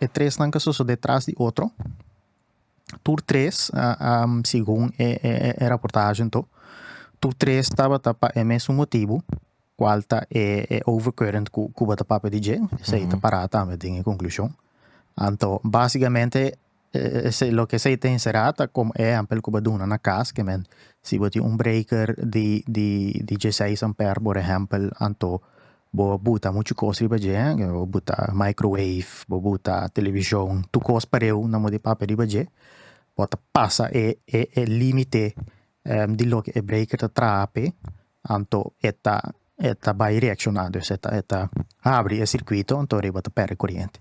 E tresnan ka sosodé tras di otro. Tur tres, segun e e raportagen to, tur tres tabata pa e mesun motibu kual ta e e overcurrent ku ku bo ta papia di dje, esei ta pará tambe den e konklushon. Anto básikamente esei loke esei ta enserá ta komo e ehèmpel ku bo duna na kas, ke men si bo tin un breker di di di dje seis ampèr, por ehèmpel, anto Bo a buta muchu kos riba dje, bo buta microwave, bo buta televishon, tur kos pareu nan bo di papia riba dje, bo ta pasa e e limite di loke e breker ta traha p'e, anto e ta e ta bai reakshona, dus e ta e ta habri e sirkuito, anto ariba ta pèrdè koriente.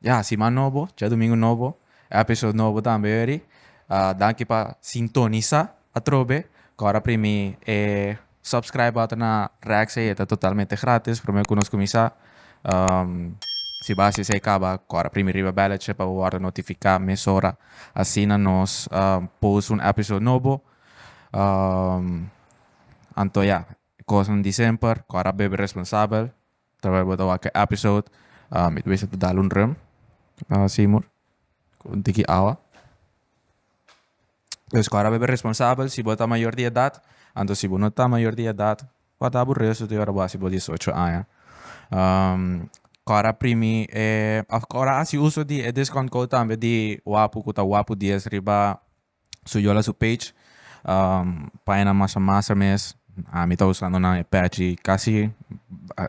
Ya, siman nobo, djadumingu nobo, episode nobo tambe weri. Danki pa sintonisa atrobe. Ku ora primi e subscribe bata na Rex ei e ta totalmente gratis, promé ku nos kuminsá. Si bo a hasi esei kaba, ku ora primi riba bèllechi pa bo wòrdu notifiká mesora asina nos post un episode nobo. Anto ya, kosnan di semper, ku ora bebe responsabel. Tabata bo ta wak e episode mi ta bisa ta dal un rem Seymour cu un tiki awa pues cu arobe bo responsabel si bo ta mayor di edad anto si bo no ta mayor di edad guarda bo resto di ora bo hasi bo diesocho aña cu ora primi of cu ora hasi uso di e discount code tambe di wapu cu ta wapu dies riba su yo la su page paina masa masa mes ami ta usando nan e page casi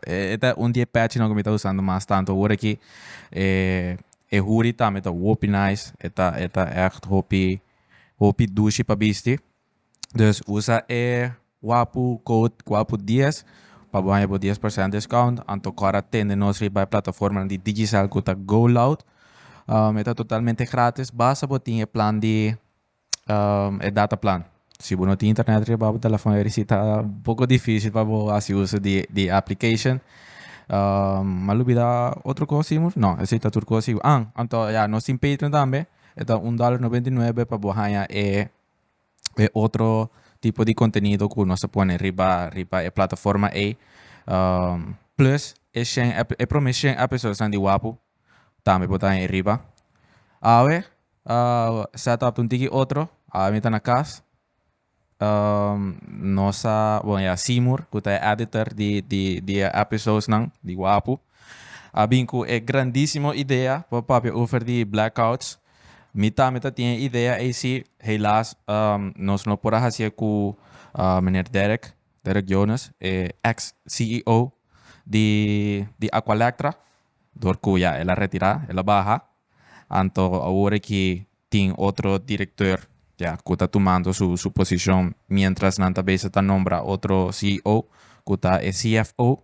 e ta un di e page nan cu mi ta usando mas tanto awor aki e hoody tambe ta hopi nice e ta e ta echt hopi hopi dushi pa bisti dus usa e Wapu code Wapu dies pa bo haña bo dies persent discount anto kor a tende nos riba e plataformanan di Digicel ku ta GoLoud. E ta totalmente gratis basta bo tin e plan di e data plan. Si bo no tin internet riba bo telefòn e risita un poko difisil pa bo hasi uso di di e application. M'a lubida otro kos Simur? No esei ta tur kos Simur. An anto ya nos tin Patreon tambe e ta un dòler noventa i nuebe pa bo haña e e otro tipo di contenido cu nos ta pone riba riba e plataforma ey plus e shen ep- e prome shen episodes nan di wapu tambe por ta ahí riba awe setup ta un tiki otro awe mi ta na cas nos sa bo ya C Moore cu ta e editor di di di e episodes nan di wapu a bin cu e grandisimo idea pa papia over di black outs. Mi tambe ta tin e idea eysi. Helaas nos no por a hasié ku meneer Derek, Derek Jones, e eks CEO di di Aqualectra, dor ku ya el a retirá, el a baha. Anto awor aki tin otro direktor, ya, ku ta tumando su su posishon miéntras nan ta bezig ta nombra otro CEO ku ta e CFO.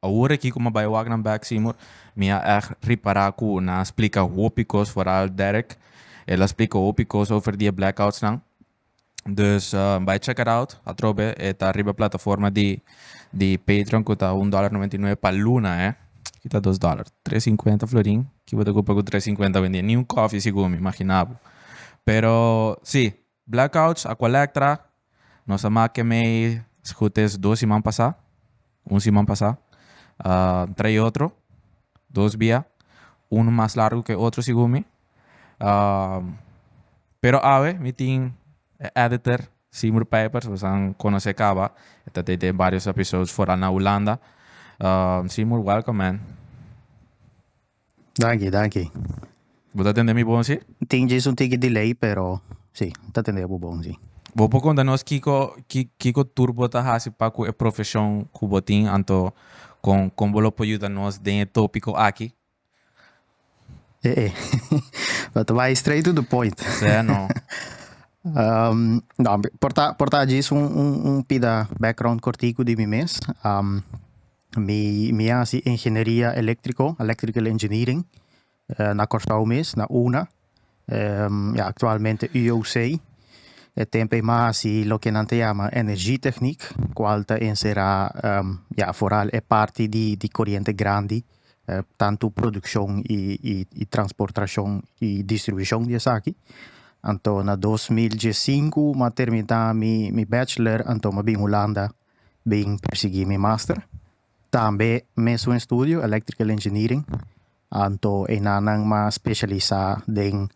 Awor aki cu mi a bay wak nan bek, Seymour, mi a echt ripara cu nan a splica hopi cos, vooral Derek. El a splica hopi cos over di e blackoutsnan. Dus, bay check it out atrobe. E ta riba e plataforma di, di Patreon cu ta un dollar noventa y nueve pa luna, eh. Aki ta dos dollar. Tres cincuenta florin. Ki bo ta cupa cu tres cincuenta hoy en dia? Ni un coffee si gumi, imagina bo. Pero, si, Blackouts a colectra nos a make mei sgut es dos siman pasa, un siman pasa, entre e otro dos bia, uno mas largo ke otro segun mi. Pero awe mi tin e editor Seymour Pijpers besan conoce caba e ta te den varios episodes foral na Hulanda. Seymour welcome man. Danki, danki. Bo ta tende mi bon si? Tin djis un tiki delay pero si, ta tende bo bon si. Bo por konta nos kiko kiko tur bo ta hasi pa ku e profeshon ku bo tin anto kon kon bo lo por yuda nos den e topiko aki? E e bo ta bai straight to the point. Sí a no. no por ta por ta djis un un un pida background kortiku di mi mes. Mi mi a hasi ingenieria eléktriko, electrical engineering, na Kòrsou mes, na UNA. Ya aktualmente UOC. E tempu ei mi a hasi loke nan ta yama energietechniek, kual ta enserá, ya, foral e parti di di koriente grandi, tantu produkshon i i transportrashon i distribushon di esaki. Anto na dos mil diesinku mi a terminá mi mi bachelor, anto mi a bin Hulanda bin persiguí mi master. Tambe mes un estudio, Electrical Engineering, anto enanan mas specialisá den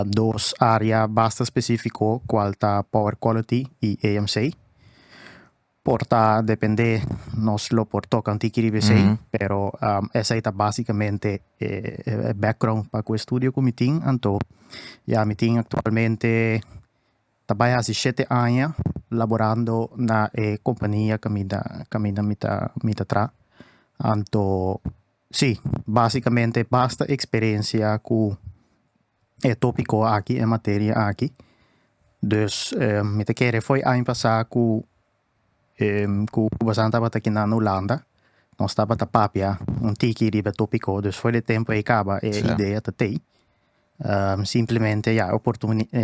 dos área basta specifico cual ta Power Quality i EMC. Por ta dependé nos lo por toca un tiki riba esei, pero esei ta básicamente e background pa cu estudio cu mi tin, anto ya mi tin actualmente. Ta bai hasi shete aña laborando na e kompania ka mi ta ka mi ta mi ta mi ta tra. Anto si, basikamente basta eksperensia ku e topiko aki, e materia aki. Dus mi ta kere foi aña pasá ku Ku Basan tabata kinda na Hulanda, nos tabata papia un tiki riba e topiko, dus for di e tempu ei kaba e idea ta tei. Simplemente ya, e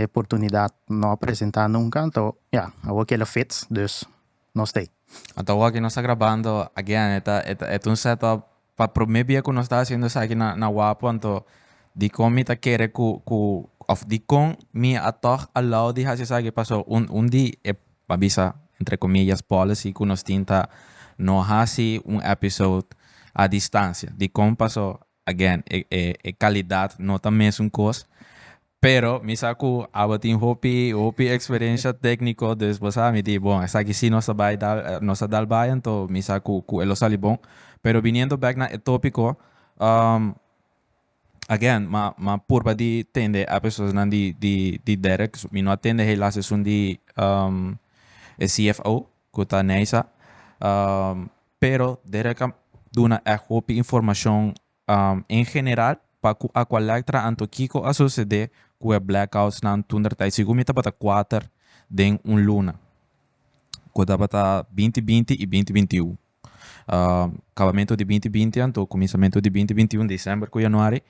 oportunidat no a presenta nunka, anto ya, awor kila fits, dus nos tei. Anto awor ki nos ta grabando again, e ta un set up Pa promé bia ku nos ta hasiendo esaki na na Wapo anto dikon mi ta kere ku ku òf dikon mi a tòg a lou di hasi esaki pasó un un di e a bisa entre komillas policy ku nos tin ta no hasi un èpisode a distansia dikon pasó again e e e kalidat no ta mesun kos. Pero mi sa cu abatin hopi hopi experiencia tecnico dus bo sa mi di bon esaki si nos ta bay dal nos ta dal bay anto mi sa cu cu e lo sali bon pero biniendo back na e topico again ma ma purba di tende e episodes nan di di di Derek mi no a tende helaas esun di e CFO cu ta Neisa pero Derek a duna echt hopi informacion En general, pa ku Aqualectra anto kiko a sosede ku e blackoutnan tundertai? Sigur mi tabata kuater den un luna ku tabata binti binti i binti binti un. Kabamentu di binti binti anto kuminsamentu di binti binti un, december ku januari,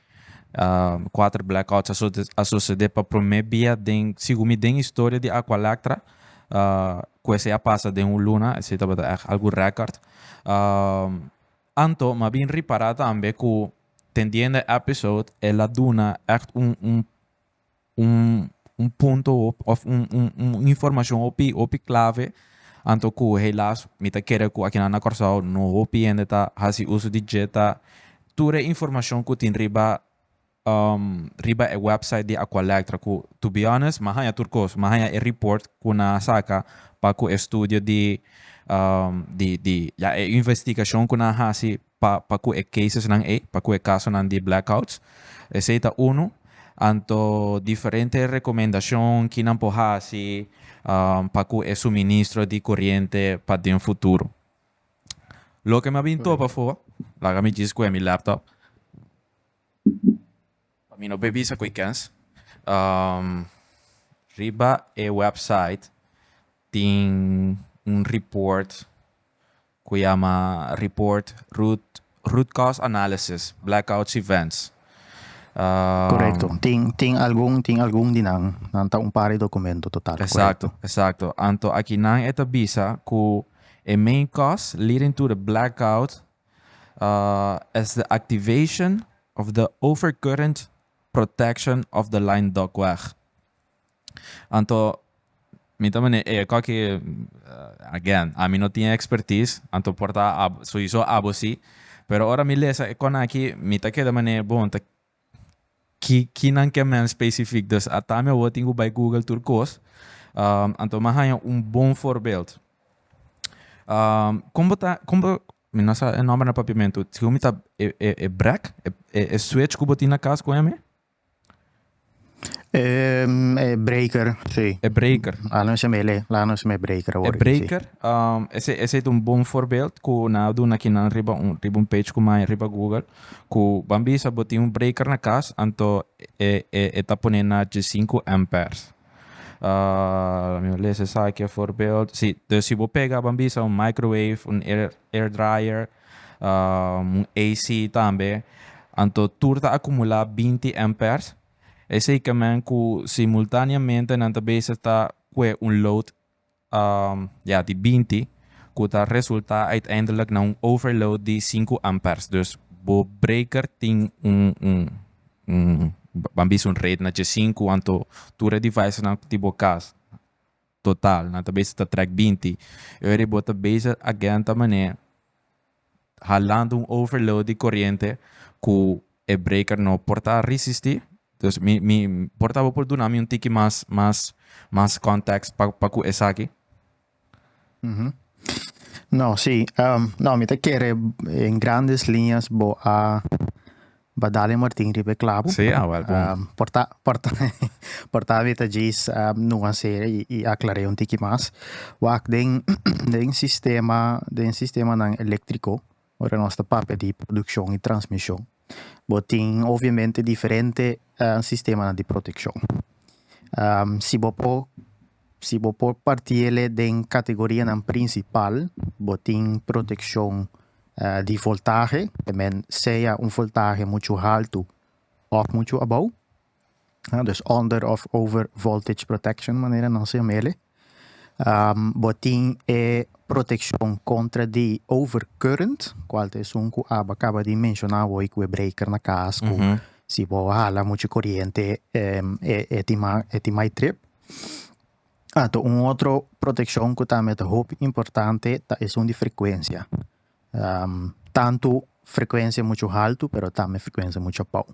kuater blackouts a sosede pa promé bia den, sigur mi, den historia di Aqualectra ku esei a pasa den un luna. Esei tabata ègt algu rèkòrt. Anto m'a bin ripará tambe ku tendiendo e episode el a duna ègt un un un un punto òf un un un informashon hopi hopi klave anto ku helas mi ta kere ku akinan na Kòrsou no hopi hende ta hasi uso di dje ta tur e informashon ku tin riba riba e website di Aqualectra cu to be honest mi a haña tur cos, mi a haña e report cu nan a saca pa cu e studio di di ya e investigacion cu nan a haci pa pa cu e casesnan ey, pa cu e casonan di blackouts, esey ta unu, anto diferente recomendacion ki nan por haci pa cu e suministro di coriente pa den futuro. Loke mi a bin topa for, laga mi djis cu e mi laptop. Pa mi no pe bisa cu e kens. Riba e website tin un report cu yama report root cause analysis blackouts events. Corecto, tin algun tin algun di nan, nan ta un par di documento total. Exacto, exacto. Anto aki nan e ta bisa cu e main cause leading to the blackout es de activation of the overcurrent protection of the line ductwork. Anto mi ta mane e ko aki again ami no tin expertise anto por ta sowieso abo si pero ora mi lesa e konan aki mi ta keda mane bon ta ki kinan ke mens specifiek dus a tambe awor tin ku bai google tur kos anto mi a haña un bon forbeld kon bo ta kon bo mi no sa e nomber na papiamentu segun mi ta e e e brek e e switch ku bo tin na kas ku eme Ehm, e breaker, sí. E breaker. Laat nos hem ele, laat nos hem e breaker E awor. breaker, um, ese, ese ta un bon voorbeeld ku nan a duna kinan riba un, riba un page ku maya riba Google, ku ban bisa bo tin un breaker na kas, anto e, e, e ta pone na dje sinku amperes. Ah, laat mi no lesa esaki a voorbeeld. Sí, dus si bo pega, ban bisa, un microwave, un air, air dryer, un AC tambe, anto tur ta akumulá binti èmpèrs. Esei kemen ku simultáneamente nan ta bezig ta kue un load ya di binti ku ta resultá uiteindelik na un overload di sinku èmpèrs. Dus bo breker tin un un un ban bisa un rate na dje sinku anto tur e devices nan ku tin bo kas. total nan ta bezig ta trek binti y ora bo ta bezig a genta manera halando un overload di coriente cu e breaker no por ta resisti dus mi mi por ta bo por duna mi un tiki mas mas mas context pa pa cu esaki. No si mi ta kere en grandes lineas bo a Ba dale Martin riba e clavo. Sí, a wel bon. Um, por ta, por ta, por ta meta Jace um, nuancere y, y aclaré un tiki mas. Wak den, den sistema, den sistema nan eléctrico, ora nos ta papia di producción y transmisión, bo tin obviamente diferente uh, sistema nan di protección. Um, si bo po Si bo por parti el'e den kategorianan prinsipal, bo tin protekshon di voltahe, e men sea un voltahe muchu haltu òf muchu abou, dus under òf over voltage protection manera nos yama el'e. Bo tin e protekshon kontra di over current, kual ta esun ku Aba kaba di menshona awor ku e breker na kas ku si bo hala muchu koriente e tin mai trip. Ato un otro protekshon ku tambe ta hopi importante ta esun di frekuensia tantu frekuensia muchu haltu pero tambe frekuensia muchu pau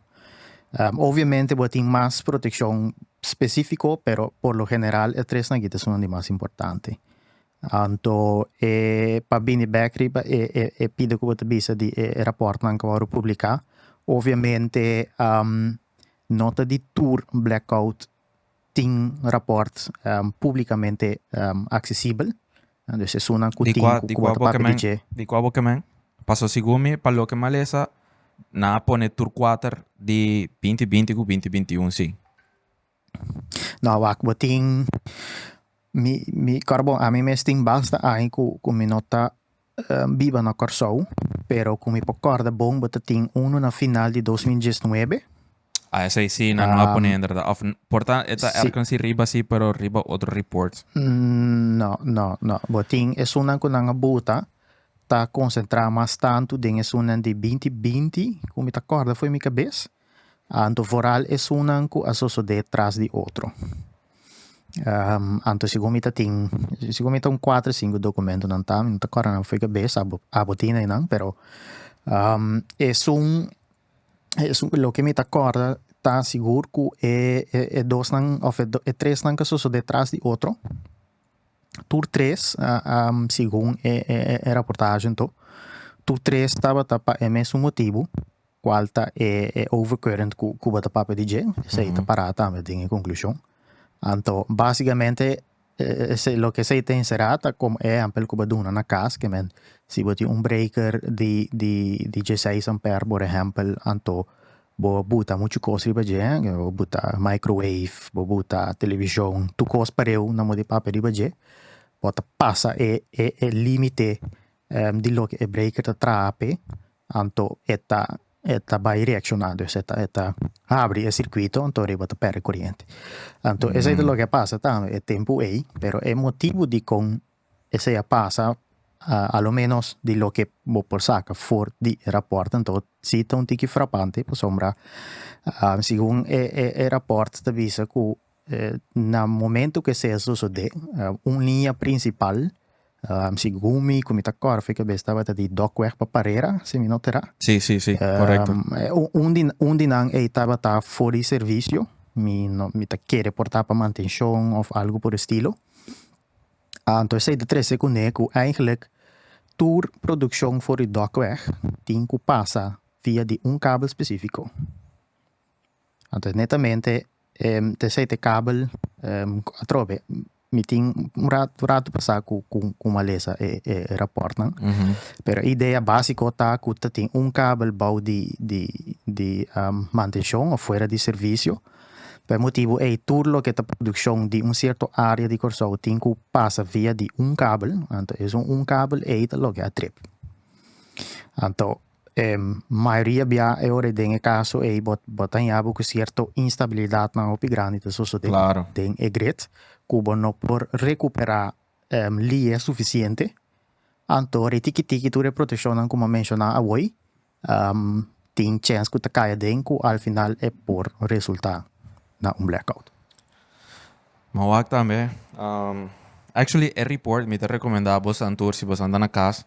obviamente bo a tin mas protekshon spesifiko pero por lo general e tres na kita esun di mas importante anto e pa bini bek riba e e e pida ku bo ta bisa di e rapòrtnan ku a wòrdu publiká obviamente no ta di tur blackout tin rapport publicamente accesibel. Dus esunnan cu tin cu cu bo ta papia di dje. Di cua bo kemen? Paso segun mi pa loke malesa nan a pone tur cuater di binti binti cu binti binti un si. No wak bo tin mi mi cor bo ami mes tin basta aña cu cu mi no ta biba na Kòrsou, pero ku mi por kòrda bon bo ta tin unu na final di dos mil diesnuebe. Ah, esei si nan lo a pone inderdat. Òf por ta e ta èrkens si riba si pero riba otro ripòrt. No, no, no. Bo tin esunnan ku nan a buta ta konsentrá mas tantu den esunnan di binti binti ku mi ta kòrda fo'i mi kabes. Anto vooral esunnan ku a sosodé tras di otro. Anto segun mi ta tin, segun mi ta un kuater sinku dokumentonan ta, mi no ta kòrda nan fo'i kabes, abo abo tin einan, pero esun esun loke mi ta kòrda ta sigur ku e e e dosnan òf e tresnan ka sosodé tras di otro, tur tres segun e e e raportahenan to tur tres tabata pa e mesun motibu. cual ta e overcurrent cu Cuba ta papia di dje, esey ta para tambe den e conclusion. Anto, basicamente esey loke esey ta encera ta como e ehempel cu bo duna na cas, que men si bo tin un breaker di di di dieseis ampere por ehempel anto bo a buta muchu cos riba dje, bo buta microwave, bo buta television, tur cos pareu nan bo tin papia riba dje, bo ta pasa e e e limite di loke e breaker ta traha p'e, anto e ta e ta bai reacciona dus e ta e ta habri e circuito anto riba ta perde coriente anto esey ta loke a pasa tambe e tempo ey pero e motibo dikon esey a pasa a lo menos di loke bo por saca for di e rapport anto si ta un tiki frapante pasobra segun e e e rapport ta bisa cu Na momento ku esei a sosodé, un liña prinsipal, sigun mi ku mi ta kòrda fi kabes, tabata di Dòkweg pa Parera, si mi no ta erá. Sí, sí, sí, korekto. Un di, un di nan ei tabata for di servisio, mi no, mi ta ke reportá pa mantenshon òf algu por e stilo. Anto esei ta trese kuné ku eigentlik tur produkshon for di Dòkweg tin ku pasa via di un kabel spesífiko. Anto netamente te sei te kabel atrobe mi tin un ratu pasa ku ku malesa e e rapòrtnan pero e idea básiko ta ku ta tin un kabel bou di di di mantenshon òf fuera di servisio pa e motibu ei tur loke ta produkshon di un sierto área di Kòrsou tin ku pasa via di un kabel anto esun un kabel ei ta loke a trip anto. mayoria bia e ora den e kaso ei bo bo ta haña bo ku sierto instabilidatnan hopi grandi ta sosodé Claro. den e gret ku bo no por rekuperá lia sufisiente. Anto ora e tiki tiki tur e proteshonnan ku m'a menshoná awor tin chèns ku ta kai aden ku al final e por resultá na un blackout. M'a wak tambe. Actually e report mi ta rekomendá bosan tur si bosan ta na kas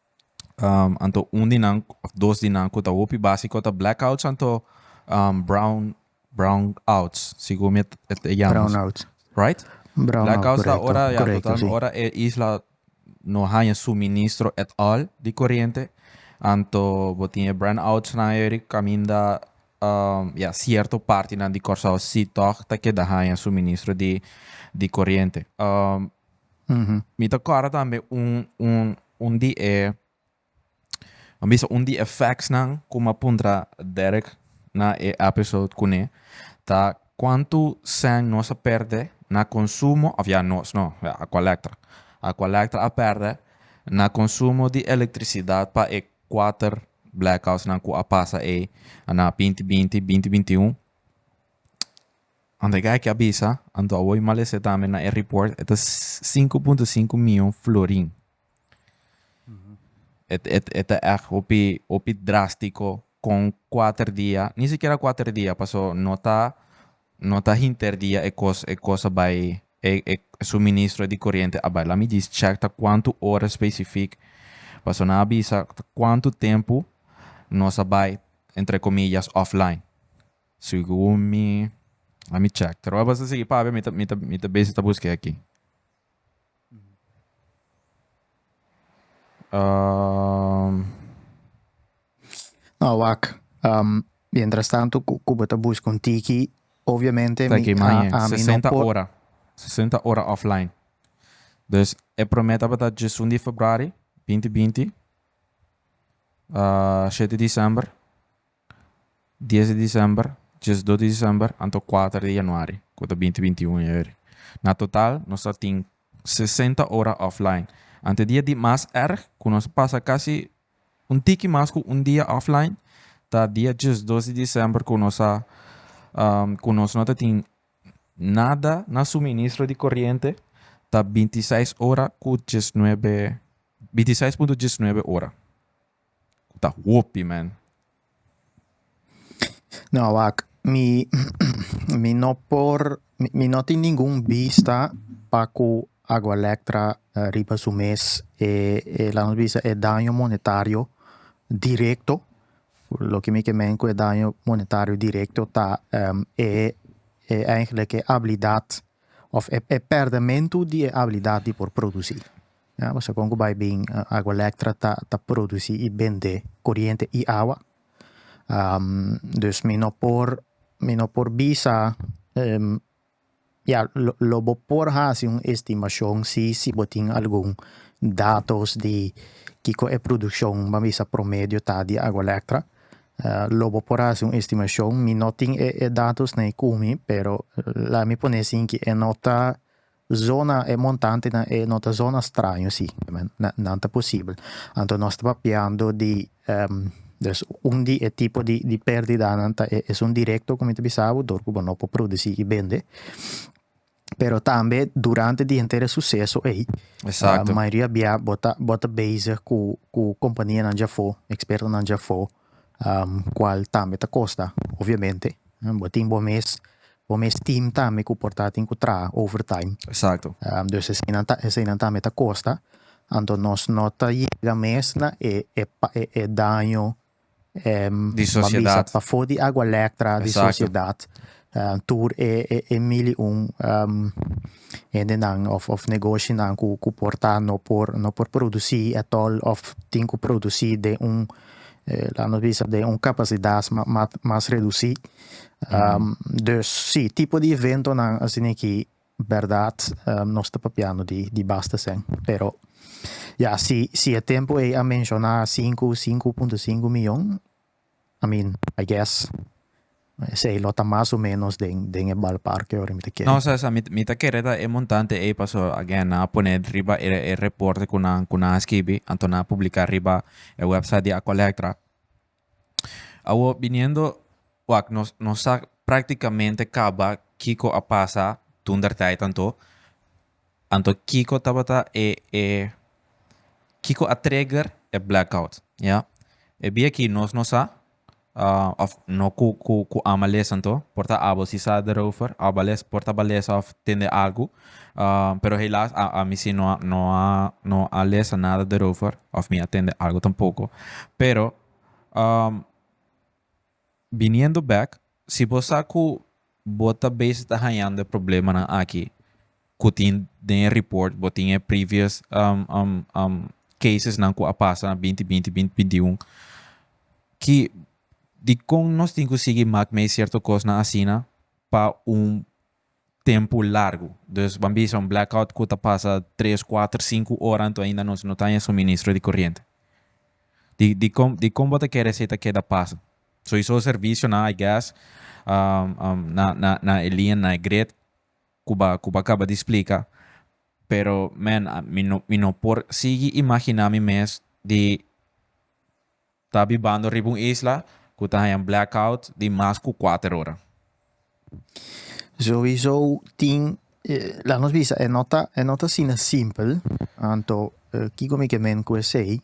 anto un di nan of dos di nan ku ta hopi básiko ta blackouts anto brown brown outs sigur mi et e yama Brown out. right Brown out, blackouts ta correcto, ora ya correcto, total sí. ora e isla no haña suministro at all di corriente anto bo tin e brown outs nan ayeri kaminda um, ya cierto partinan di Kòrsou si tòg ta keda haña suministro di di corriente um Mi ta kòrda tambe un un un di e a bisa un di e factsnan ku mi a puntra Derek na e episode kuné ta kuantu sèn nos a pèrdè na konsumo òf ya nos no ya Aqualectra Aqualectra a pèrdè na konsumo di elektrisidat pa e kuater blackoutsnan ku a pasa ei na binti binti binti binti un Ando e gei ke a bisa, ando a woi mal ese tambe na e report, e ta sinku punto sinku mion florin. E ta ègt hopi, hopi drástiko kon kuater dia, ni sikiera kuater dia, paso no ta, no ta hinter dia e kos, e kos a bai, e e suministro di koriente a bai. Laat mi djis chèk ta kuantu ora spesifik, paso nan a bisa ta kuantu tempu nos a bai, entre komillas, offline. Segun mi, let me check. Tro basta sigui papia mi ta mi ta mi ta besi ta busk'e aki. Um, No, wak. Um, mientras tanto, cu- Cuba ta busca un tiki. Obviamente, ta mi, ki a, mañe a mi no 60 por. ora. 60 ora offline. Dus e prome tabata djesun di februari binti binti a shete di december Dies di December, diesdos di December anto kuater di Januari ku ta binti binti un Januari. Na total nos ta tin sesenta ora offline. Ante dia di mas erg ku nos a pasa kasi un tiki mas ku un dia offline ta dia diesdos di December ku nos a ku nos no ta tin nada na suministro di koriente ta binti seis ora ku diesnuebe binti seis punto diesnuebe ora. Ta hopi man. No wak, mi mi no por mi no tin ningun bista pa ku Agualectra riba su mes e e lanos bisa e daño monetario direkto, loke mi ke meen ku e daño monetario direkto ta e e eigenlik e abilidat òf e pèrdèmentu di e abilidat di por produsí. Ya pasobra kon ku bai bin agua lektra ta ta produsi i bende koriente i awa. dus mi no por mi no por bisa ya lo lo bo por hasi un estimashon si si bo tin algun datos di kiko e produkshon ban bisa promedio ta di agua lektra, lo bo por hasi un estimashon, mi no tin e e datos na e kumi pero laga mi pone asin ki e no ta Zona e montantenan e no ta zona straño si, nan ta posibel. Anto nos ta papiando di des un di e tipo di di perdidanan ta e esun directo ku mi ta bisa bo dor ku bo no por produsi i bende. Pero tambe durante di henter e suseso ei, Exacto. mayoria bia bo ta bo ta bezig ku ku kompanianan djafo, ekspertonan djafo. Cual tambe ta costa, obviamente. Bo tin bo mes, bo mes team tambe cu por ta tin cu traha overtime. Exacto. Dus eseinan ta, eseinan tambe ta costa. Anto nos no ta yega mes na e, e, e, e daño, di sociedad. Bambisa, pafo di Agua Lectra, di sociedad. tur e e e mili un hendenan of of negoshinan ku ku por ta no por no por produsí atol of tin ku produsí den un laat nos bisa den un kapasidat mas redusí. Dus si, tipo di eventonan asin'eki bèrdat nos ta papiando di di basta sèn, pero ya si si e tempu ei a menshoná sinku sinku punto sinku miyon I mean, I guess, esei lo ta mas o menos den, den e balparke ora mi ta kere. No, sa, sa, mi, mi ta kere ta e montante ei, paso, again, nan a pone riba e, e reporte ku nan, ku nan a skibi, anto nan a publiká riba e website di Acolectra. Awo, biniendo, wak, nos, nos sa praktikamente kaba kiko a pasa dundertijdanto, Anto kiko tabata e e kiko a trigger e blackout ya e bia aki nos no sa of no ku ku ku ama lesa anto por ta abo si sa derover a ba lesa por ta ba lesa of tende algu pero helas a ami si no a no a no a lesa nada derover of mi a tende algu tampoco pero Biniendo bek, si bo sa ku bo ta bes ta hañando e problemanan aki ku tin den e report, bo tin e previous casesnan ku a pasa na binti binti, binti binti i un, ki dikon nos tin ku sigui mak mei sierto kosnan asina pa un tempu largu. Dus ban bisa un blackout ku ta pasa tres, kuater, sinku ora anto ainda nos no ta haña suministro di koriente. Di di kon di kon bo ta kere esei ta keda pasa? Soisou servisionan I guess na na na e lien na e grid ku ba ku ba kaba di splika pero man mi no mi no por sigui imaginá mi mes di Ta bibando riba un isla cu ta haña blackout di mas cu kuater ora. Sowieso tin, laat nos bisa, e no ta, e no ta asina simpel, anto kico mi ke meen cu esey?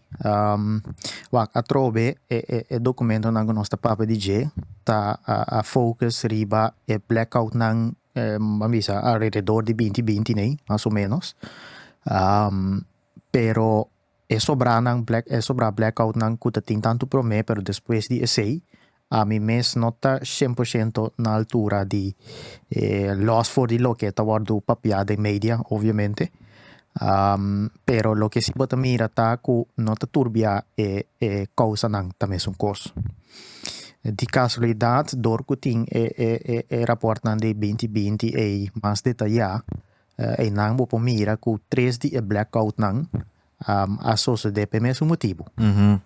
Wak, atrobe e e documentonan cu nos ta papia di dje ta a focus riba e blackoutnan, ban bisa alrededor di binti binti nei, mas o menos, pero. E sobranan black e sobra blackoutnan ku ta tin tantu promé pero despues di esei ami mes no ta shen por shento na altura di lòs for di loke ta wòrdu papiá den media obviamente pero loke si bo ta mira ta ku no ta turbiá e e kousanan ta mesun kos. Di kasualidat dor ku tin e e e rapòrtnan di binti binti ei mas detayá Einan bo por mira cu tres di e blackoutnan a sosode pa e mesun motibu,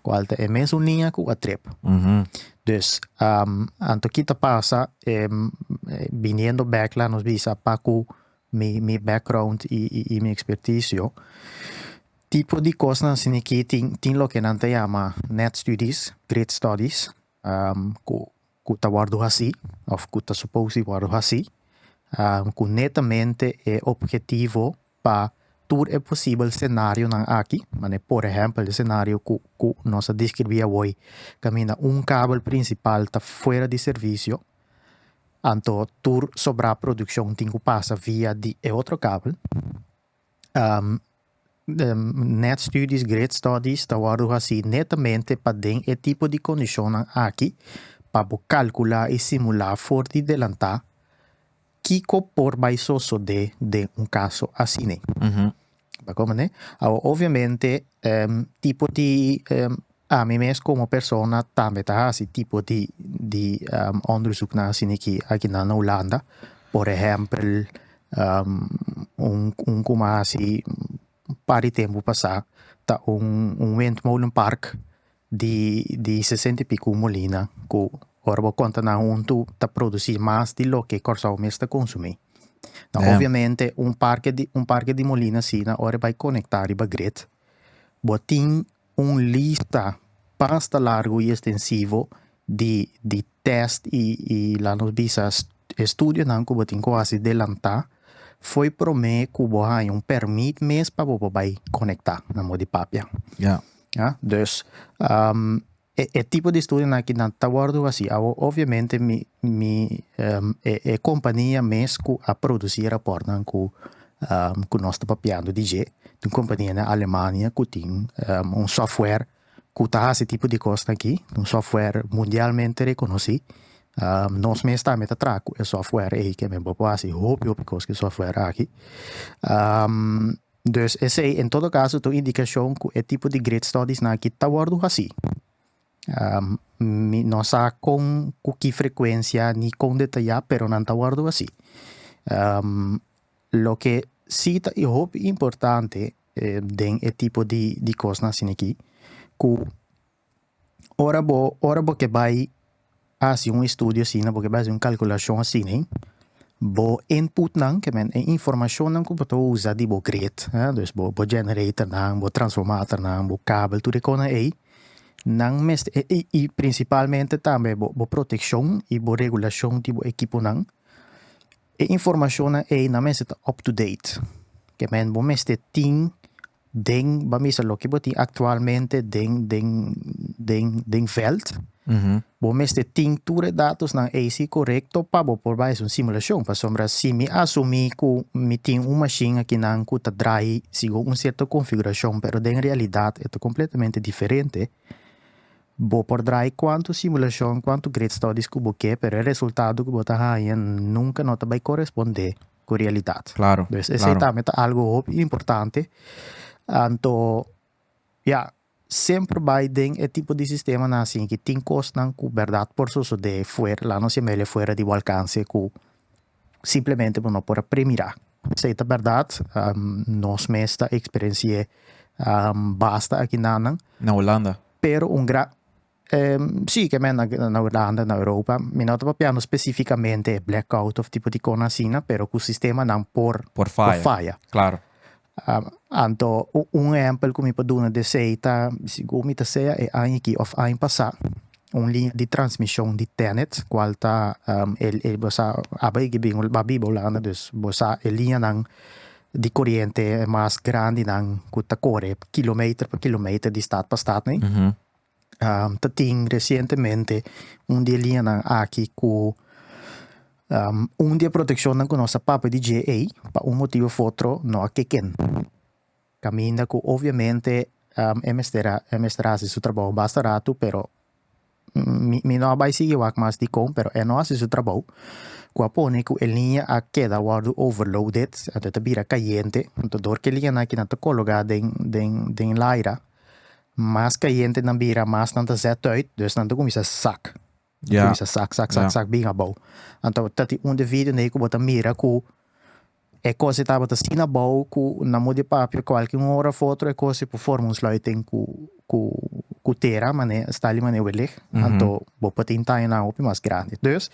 cual ta e mesun liña cu a trip. Dus, anto ki ta pasa, biniendo bek la nos bisa apa cu mi background y mi expertise yo, tipo di cosnan asina aki tin loke nan ta yama net studies, grid studies, ku ta wòrdu hasí òf ku ta supos di wòrdu hasí, ku netamente e opgetivo pa tur e posibel senarionan aki, manera por ehèmpel e senario ku ku nos a deskribí awor, kaminda un kabel prinsipal ta fuera di servisio, anto tur sobrá produkshon tin ku pasa via di e otro kabel. net studies, great studies ta wordo hasi netamente pa den e tipo di kondishonnan aki pa bo kalkula i simula for di delantá kiko por bai sosodé den un kaso asina. Bo ta kòrda me? Awa obviamente tipo di. Ami mes komo persona tambe ta hasi tipo di di onderzoeknan asina aki akinan na Hulanda. Por ehèmpel un un ku mi a hasi un par di tempu pasá ta un un windmolen park di di sesenta i piku molina ku ora bo konta nan huntu ta produsí mas di loke Kòrsou mes ta konsumí. Obviamente un parke di un parke di molina asina ora e bai konektá riba gret bo tin un lista basta largu y estensivo di di test y y laat nos bisa estudionan cu bo tin cu haci delanta fo'i prome cu bo haña un permit mes pa bo por bay conecta na modo di papia. Ja. Ja, dus um e e tipo di estudionan aki nan ta wordo haci awo obviamente mi mi um e e compania mes cu a produci e raportnan cu ku nos ta papiando di dje. Tin un kompania na Alemania ku tin un sòftware ku ta hasi e tipo di kosnan akí, un sòftware mundialmente rekonosí. Nos mes tambe ta traha ku e sòftware ei ke men bo por hasi hopi hopi kos ku e sòftware aki. Dus esei en todo kaso ta un indikashon ku e tipo di great studies nan akí ta wòrdu hasí. Mi no sa kon ku ki frekuensia ni kon detayá pero nan ta wòrdu así. Loke si ta hopi importante den e tipo di kosnan asina aki, ku ora bo ora bo ke bai Hasi un estudio asina bo ke bai hasi un kalkulashon asina. Bo inputnan, ke men e informashonnan ku bo ta usa di bo grid, dus bo generatornan, bo transformatornan, bo kabel, tur e kosnan ei, nan mes i prinsipalmente tambe bo protekshon i bo regulashon di bo ekiponan, e informashonnan ei nan mester ta up to date. Ke men bo mester tin den ba mester loke bo tin actualmente den den den den veld bo mester tin tur e datos nan AC correcto pa bo por bai haci un simulacion pasobra si mi asumi cu mi tin un machine akinan cu ta draai segun un cierto configuracion pero den realidad e ta completamente diferente bo por draai cuanto simulacion cuanto grid studies cu bo ke pero e resultado cu bo ta haña nunca no ta bai corresponde ku realidat. Klaro, klaro. Esei tambe ta algu hopi importante. Anto, ya, semper bai den e tipo di sistemanan asin ki tin kosnan ku bèrdat por sosodé fuer, la nos yam'e ele fuera di bo alkanse, ku simplemente bo no por a premirá. Esei ta bèrdat, nos mes ta eksperensi'é basta aki nan nan. Na Holanda. Pero un gran, Si, ke menda na Ulanda, na Europa, mi no ta papiando spesifikamente e blackout òf tipo di kos asina, pero ku sistemanan por faya. Anto un ehèmpel ku mi por duna di esei ta, sigur mi ta sea e aña aki òf aña pasá, un liña di transmishon di Tennet, kual ta e bo sa aba e bin a biba Ulanda, dus bo sa e liñanan di koriente mas grandinan ku ta kore kilometer pa kilometer di stat pa stat nei, ta tin recientemente un di e liñanan aki ku un di e protekshonnan ku nos a papia di dje ei pa un motibu of otro no a keken. Kaminda ku obviamente e mester a e mester a hasi su trabou basta ratu pero mi mi no a bai sigui wak mas dikon pero e no a hasi su trabou ku a pone ku e liña a keda wòrdu overloaded anto e ta bira kayente anto dor ku e liñanan akinan ta kologa den den den laira. Mas kayentenan bira, mas nan ta zet uit, dus nan ta kuminsá sak, ta kuminsá sak, sak, sak, sak bin abou. Anto ta tin un di e videonan ei ku bo ta mira ku e kos ei tabata asina abou ku na mut di e papia kualke un ora of otro e kos ei por forma un sluiting ku ku ku tera, mane sta alimané welig, anto bo por tin taño nan hopi mas grandi. Dus.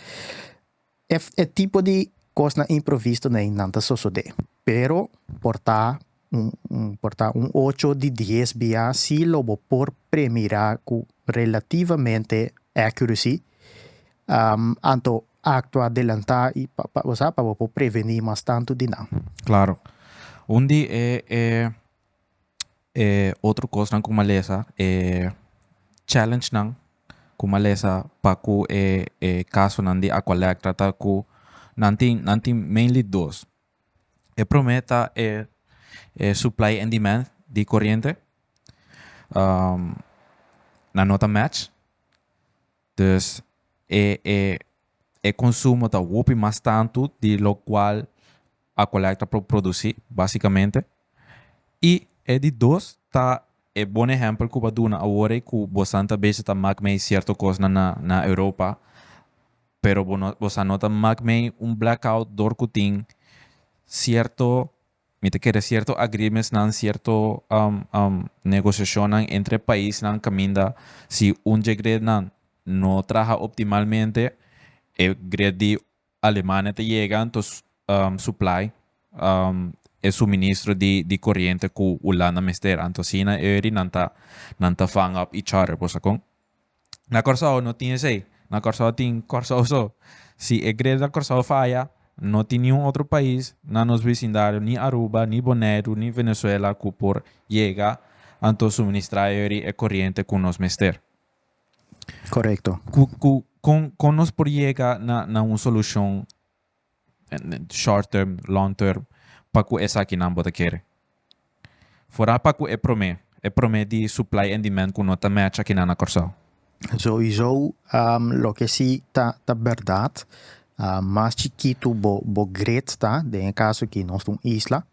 E e tipo di kosnan improvisto nei nan ta sosodé, pero por ta un un por ta un ocho di dies bia si lo bo por premirá ku relativamente accuracy anto aktua delantá i pa pa bo sa pa bo por prevení mas tantu di nan. Klaro. Un di e e. E otro cosnan cu malesa e challengenan cu malesa pa cu e e casonan di Aqualectra ta cu nan tin nan tin mainly dos. E prome ta e e supply and demand di coriente nan no ta match. Dus e e e konsumo ta hopi mas tantu di lokual Acollecta por produsí básikamente. I e di dos ta e bon ehèmpel ku bo a duna awor ei ku bosa'n ta bese ta mak mei sierto kosnan na na Europa pero bo no bosa'n no ta mak mei un blackout dor ku tin sierto Mi ta kere cierto agreementsnan, cierto negociacionnan entre paisnan caminda si un dje greatnan no traha optimalmente e great di Alemania ta yega anto supply e suministro di coriente cu Hulanda mester. Anto asina e ori nan ta vang up each other, bosa con? Na Kòrsou no tin esei. Na Kòrsou tin Kòrsou so. Si e greda Kòrsou faya, no tin niun otro pais na nos bisindario, ni Aruba, ni Boneiru, ni Venezuela ku por yega anto suministrá yori e koriente ku nos mester. Korekto. Ku kon nos por yega na un solushon short term, long term, pa ku esakinan bo ta kere. Forá pa ku e promé, e promé di supply and demand ku no ta match akinan na Kòrsou. Souiso loke si ta ta bèrdat, mas chikitu bo bo grid ta, den e kaso ki nos ta un isla,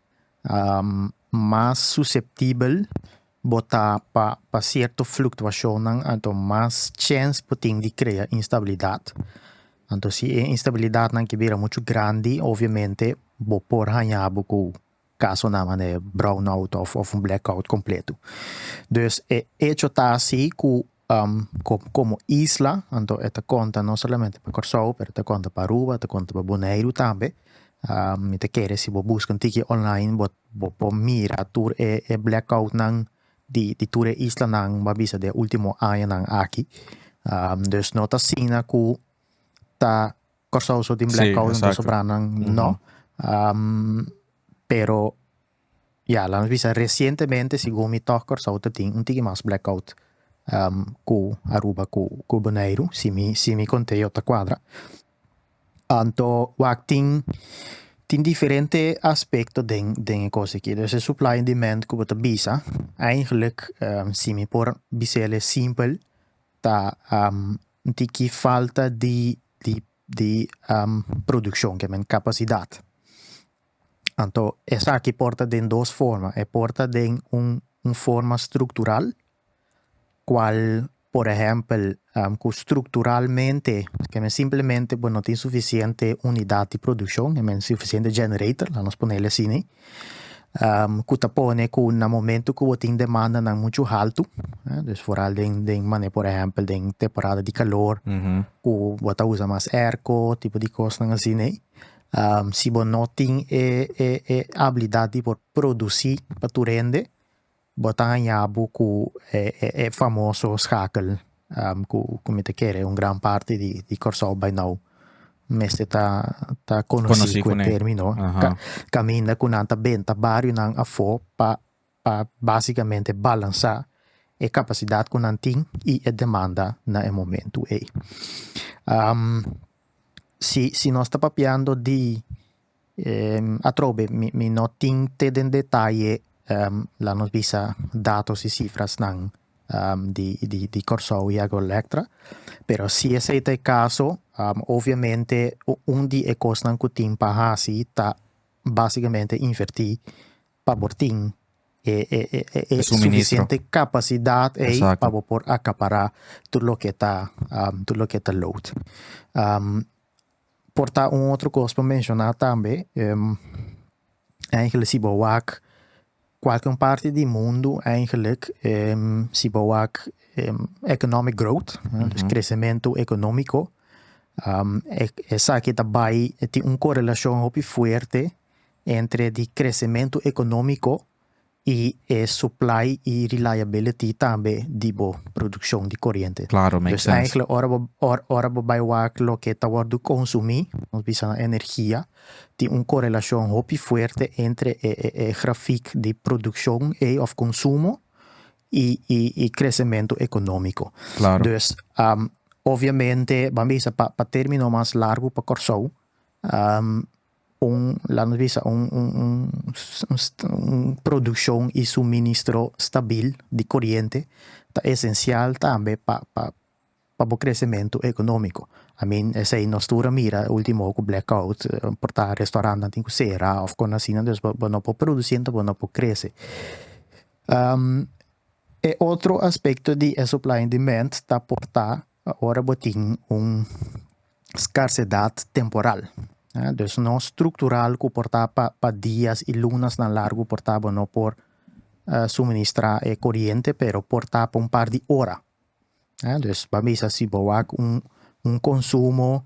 mas suseptibel bo ta pa pa cierto fluctuacionnan anto mas chens bo tin di crea instabilidad, anto si e instabilidadnan ke bira muchu grandi obviamente bo por haña bo cu casonan manda e brownout of of blackout completo. Dus e hecho ta asi cu Komo isla, anto e ta konta no solamente pa Kòrsou pero ta konta pa Aruba, ta konta pa Boneiru tambe. Mi ta kere si bo buska un tiki online bo bo por mira tur e e blackoutnan di di tur e islanan bo a bisa den e ultimo añanan aki. Dus no ta asina ku ta Kòrsou so tin blackout entonces sobranan no pero Ya, lames bisa recientemente segun mi tog Corsou ta tin un tigi mas blackout cu Aruba cu cu Boneiru si mi si mi conteo ta cuadra. Anto wak tin tin diferente aspecto den den e cos aki dus e supply en demand cu bo ta bisa eigenlijk si mi por bisel e simpel ta un tiki falta di di di produccion kiamen capacidad. Anto esaki por ta den dos forma, e por ta den un un forma struktural, kual por ehèmpel ku strukturalmente ke men simplemente bo no tin sufisiente unidat di produkshon, no tin sufisiente generator, la nos ponel asini, ku ta pone ku na momento ku bo tin demandanan muchu haltu, dus foral den den manera por ehèmpel den temporada di kalor, ku bo ta usa mas airco, tipo di kosnan asina. Si bo no tin e e abilidad di por produci pa tur hende, bo ta haña bo cu e e famoso schakel cu cu mi ta kere un gran parti di Kòrsou bai nou mester ta ta conoci cu e termino, caminda cu nan ta benta barionan afo pa pa básikamente balansá e kapasidat ku nan tin i e demanda na e momentu ei. Si si nos ta papiando di atrobe mi mi no tin te den detaye la nos bisa datos i sifrasnan di di di Kòrsou i Agroelektra, pero si esei ta e kaso oviamente un di e kosnan ku tin pa hasi ta básikamente invertí pa bo tin e suficiente capacidad ey pa bo por acapara tur loke ta tur loke ta load. Por ta un otro cos pa menciona tambe eigenlic si bo wak cualke un parti di mundo eigenlic si bo wak economic growth dus crecemento economico esaki ta bay tin un corelacion hopi fuerte entre di kresementu ekonómiko i e supply i reliability tambe di bo produkshon di koriente. Klaro, make sense. Dus enkele ora bo ora bo bai wak loke ta wòrdu konsumí, nos bisa nan energia, tin un korelashon hopi fuerte entre e e e grafik di produkshon ei òf konsumo i i i kresementu ekonómiko. Klaro. Dus obviamente ban bisa pa pa término mas largu pa Kòrsou, Un, lami bisa, un, un, un, un, un produccion y suministro stabil di coriente ta esencial tambe pa, pa, pa bo crecemento economico. I mean, esey nos tur a mira e ultimo hour cu blackout, por ta restaurantnan tin cu cera of con asina, dus bo no por produci enta bo no por crece. E otro aspecto di e supply and demand ta por ta, ora bo tin un. skarsedat temporal. Dus no struktural ku por ta pa pa dias i lunasnan largu por ta bo no por suministrá e koriente pero por ta pa un par di ora. Dus ban bisa si bo wak un un konsumo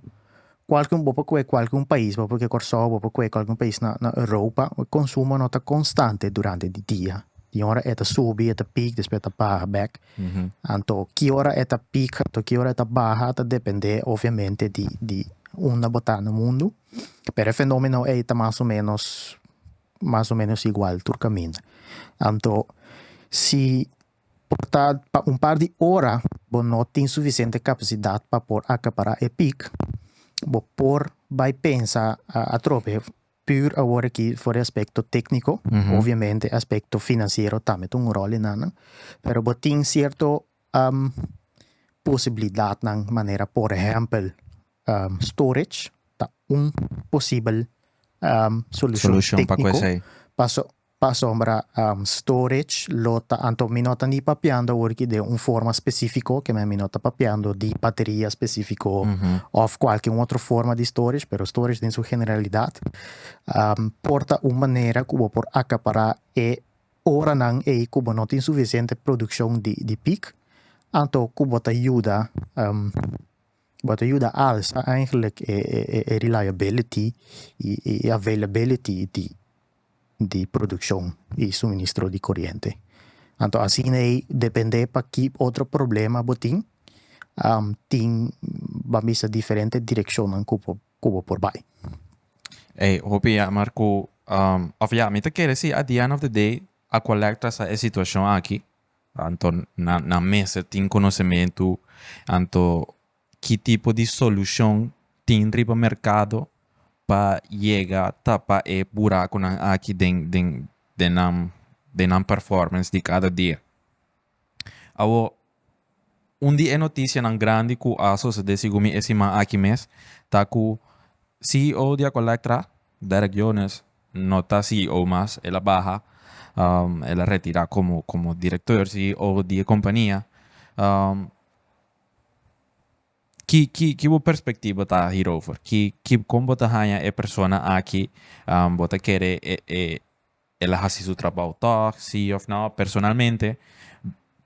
kual bo por kue kualke un pais, bo por kue Kòrsou, bo por kue kualke un pais na na Europa, e konsumo no ta konstante durante di dia. Di un ora e ta subi, e ta pik, despues e ta baha bèk. Anto ki ora e ta pik, anto ki ora e ta baha ta depende obviamente di di unda bo ta na mundu, pero e fenomeno ey ta mas o menos mas o menos igual tur caminda. Anto si por ta pa un par di ora bo no tin suficiente capacidad pa por acapara e pik, bo por bay pensa atrobe Puur awor aki for di aspekto tékniko, obiamente aspekto finansiero tambe ta un ròl i nan, pero bo tin sierto posibilidatnan manera por ehèmpel storage ta un posibel solushon tékniko paso Pa asombra storage lo ta anto mi no ta ni papiando awor ki den un forma specifico keme mi no ta papiando di bateria specifico of cualke un otro forma di storage pero storage den su generalidad por ta un manera cu bo por acapara e oranan ey cu bo no tin suficiente produccion di pic anto cu bo ta yuda. Bo ta yuda alsa eigenlijk e reliability y e availability di produccion y suministro di coriente. Anto asina ei depende pa ki otro problema bo tin, tin ban bisa diferente direccionnan cu bo cu bo por bay. Ey, hopi jammer cu, of ya, mi ta kere si at the end of the day Aqualec ta sa e situacion aki. Anto nan nan mester tin konosementu anto ki tipo di solushon tin riba merkado pa yega tapa e burakonan aki den den den nan den nan performance di kada dia. Awo un di e notisianan grandi ku a sosodé sigun mi e siman aki mes ta ku ceo di Acolectra, Derek Jones no ta CEO mas, el a baha, el a retira komo komo direktor, CEO, di e kompania. Ki ki ki bo perspektiba ta hierover? Ki ki kon bo ta haña e persona aki bo ta kere e e el a hasi su trabou tòg, sí òf nò? Personalmente,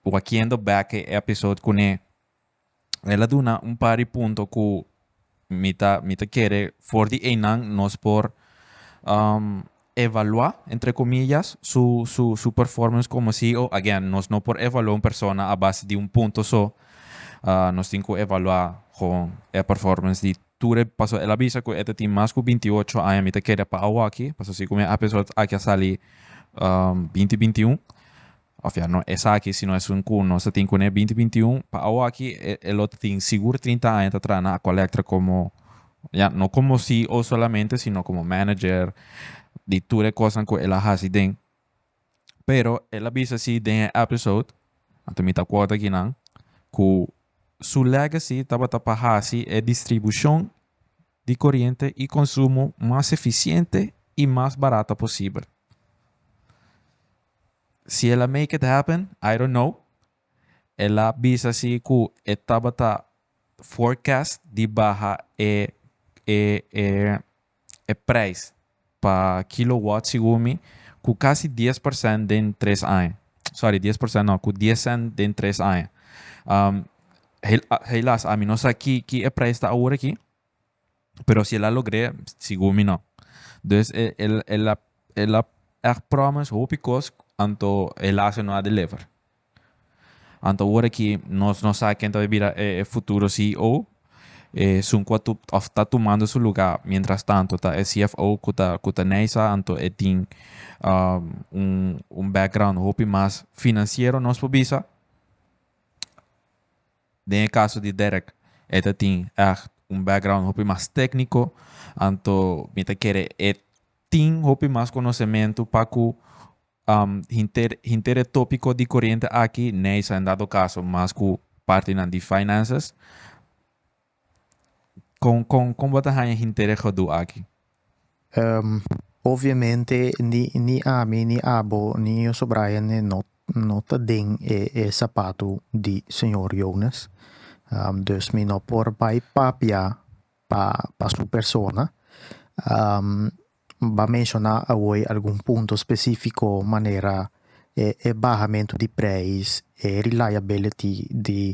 wak kiendo bèk e episode kuné. El a duna un par di punto ku mi ta mi ta kere for di einan nos por evaluá, entre komillas, su su su performance komo ceo. Again, nos no por evaluá un persona a base di un punto so. Nos tin ku evaluá gewoon e performance di tur e, pasobra el a bisa ku e ta tin mas ku binti ocho aña, mi ta kere pa awòkI, pasobra si ku mi a episode aki a sali binti binti un. Of ya no esaki sino esun ku nos ta tin kuné e binti binti un. Pa awo aki e e lo ta tin sigur trinta aña ta traha na Aqualectra komo, ya, no komo CEO solamente sino komo manager di tur e kosnan ku el a hasi den. Pero el a bisa si den e episode, anto mi ta quota aki nan, ku su legacy tabata pa hasi e distribushon di koriente i konsumo mas efisiente i mas barata posibel. Si el a make it happen, I don't know. El a bisa si cu e tabata forecast di baha e e e e prijs pa kilowatt segun mi cu casi dies por cent den tres aña. Sorry, dies por cent no, cu dies cent den tres aña. Um, hel- a- helaas, ami no sa ki, ki e prijs ta awor aki. pero si el a logr'é sigur mi no dus e el el a el a echt promes hopi kos anto helas e no a deliver anto ora aki nos no sa ken ta por bira e e futuro CEO e esun ku a tu of ta tumando su luga mientras tanto ta e CFO ku ta ku ta nei sa anto e tin un un background hopi mas financiero nos por bisa. Den e kaso di Derek e ta tin ègt un background hopi mas tékniko, anto mi ta kere e tin hopi mas konosementu pa ku hinter hinter e tópiko di koriente aki neisa en dado kaso mas ku partinan di finances. Con con con bo ta haña hintere godú aki? Um, obviamente ni ni ami, ni abo, ni e Yoso Brian ne no no ta den e e sapatu di señor Jonas. Um, dus mi no por bai papia pa pa su persona. Um. N ta menshoná awor algun punto spesífiko manera e bahamentu di preis, e reliability di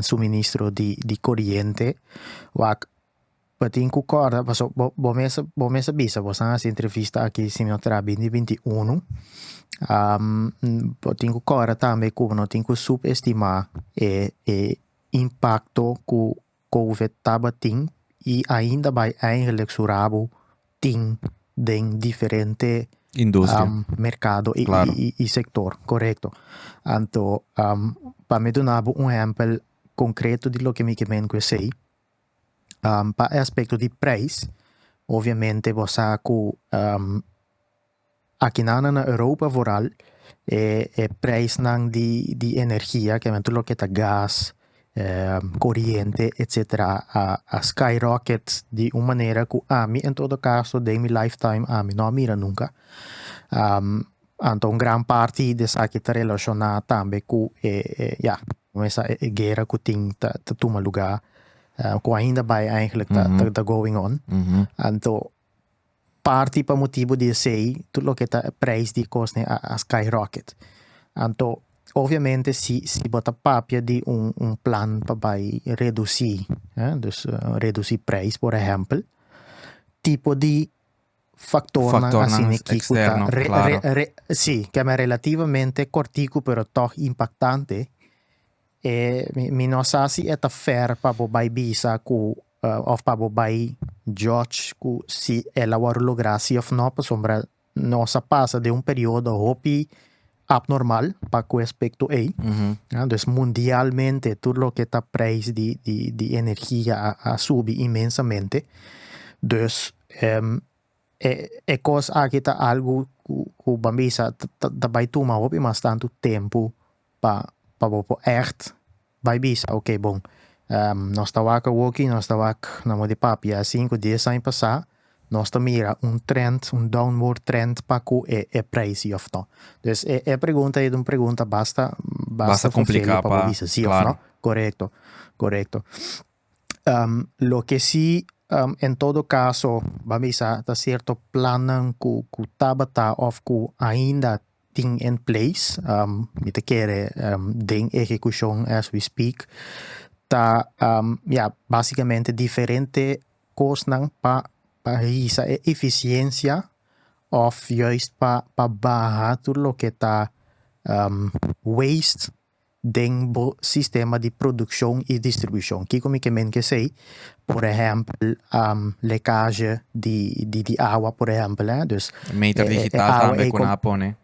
suministro di koriente. Wak bo tin ku kòrda paso bo mes bo mes a bisa bo san hasi entrevista aki si no tera binti binti unu. Bo tin ku kòrda tambe ku no tin ku subestimá e impakto ku Covid tabatin y ainda bay eigenlijk su rabo tin den diferente mercado y sector, correcto. Anto pa mi duna bo un ehempel concreto di loke mi ke mingui esey, pa e aspecto di prijs, obviamente bo sa cu. Akinana na Europa vooral e e preisnan di di energia ke men tur loke ta gas, koriente etsetera a a sky rocket di un manera ku ami en todo kaso den mi life time ami no a mira nunka. Anto un gran parti di esaki ta relashona tambe ku e e ya mesa e e guera ku tin ta ta tuma lugar ku ainda bai eigenlik ta ta going on anto. Parti pa motibu di esei tur loke ta e prijs di e kosnan a skyrocket. Anto obviamente si si bo ta papia di un un plan pa bai reduci dus reduci prijs por ehempel tipo di factornan asina aki cu ta si ke men relativamente corticu pero tog impactante. E mi no sa si e ta fair pa bo bai bisa ku òf pa bo bai judge ku si el a wòrdu lográ si òf no pasobra nos a pasa den un periodo hopi apnormal pa ku aspekto ei. Dus mundialmente tur loke ta preis di di di energia a subi inmensamente. Dus E e kos aki ta algu ku ku ban bisa ta ta bai tuma hopi mas tantu tempu pa pa bo por ègt bai bisa oke bon nos ta wak awoki nos ta wak na modi papia a sinku dies aña pasá nos ta mira un trend un downward trend pa ku e e preisio òf no. Pues e e pregunta ei ta un pregunta basta basta fashele pa bo bisa si òf no korekto korekto. Um, loke si um en todo caso bo a bisa ta cierto plannan cu cu tabata of cu ainda tin en place, um mi ta kere um den ehecucion as we speak, ta um ya basicamente diferente cosnan pa pa hisa e eficiencia of juist pa pa baha tur loke ta um waste. den bo sistema di produccion y distribucion. Kico mi ke men ke say? Por ehempel, lecaje di di di awa por ehempel, eh. Dus, e meter digital tambe cu nan a pone.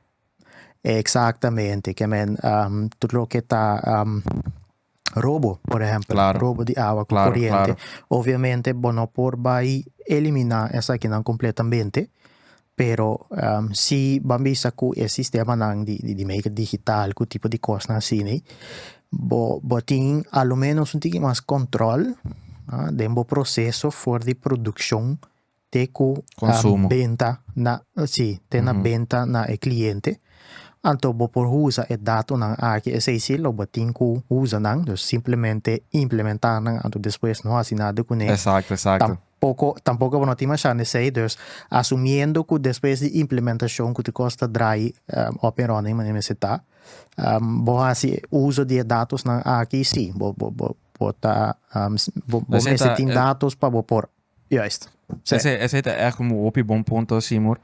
Exactamente, ke men tur loke ta robo por ehempel, claro. robo di awa cu claro, coriente. Claro. Obviamente bo no por bay elimina esakinan completamente, Pero si ban bisa cu e sistemanan di medio digital cu tipo di cosnan asina, bo tin alomenos un tiki mas control den bo proceso for di produccion te cu benta na e cliente. Anto bo por usa e datonan aki esey si lo bo tin cu usa nan, simplemente implementanan anto despues no hasi nada cu nan. Poko, tampoco bo no tin masha nesey, dus asumiendo cu despues di implementacion cu ti cos ta draai up and running manera mester ta, bo haci uzo di e datosnan aki, si, bo bo bo bo ta bo bo mester tin datos pa bo por, juist. Esey esey ta echt un hopi bon punto Seymour,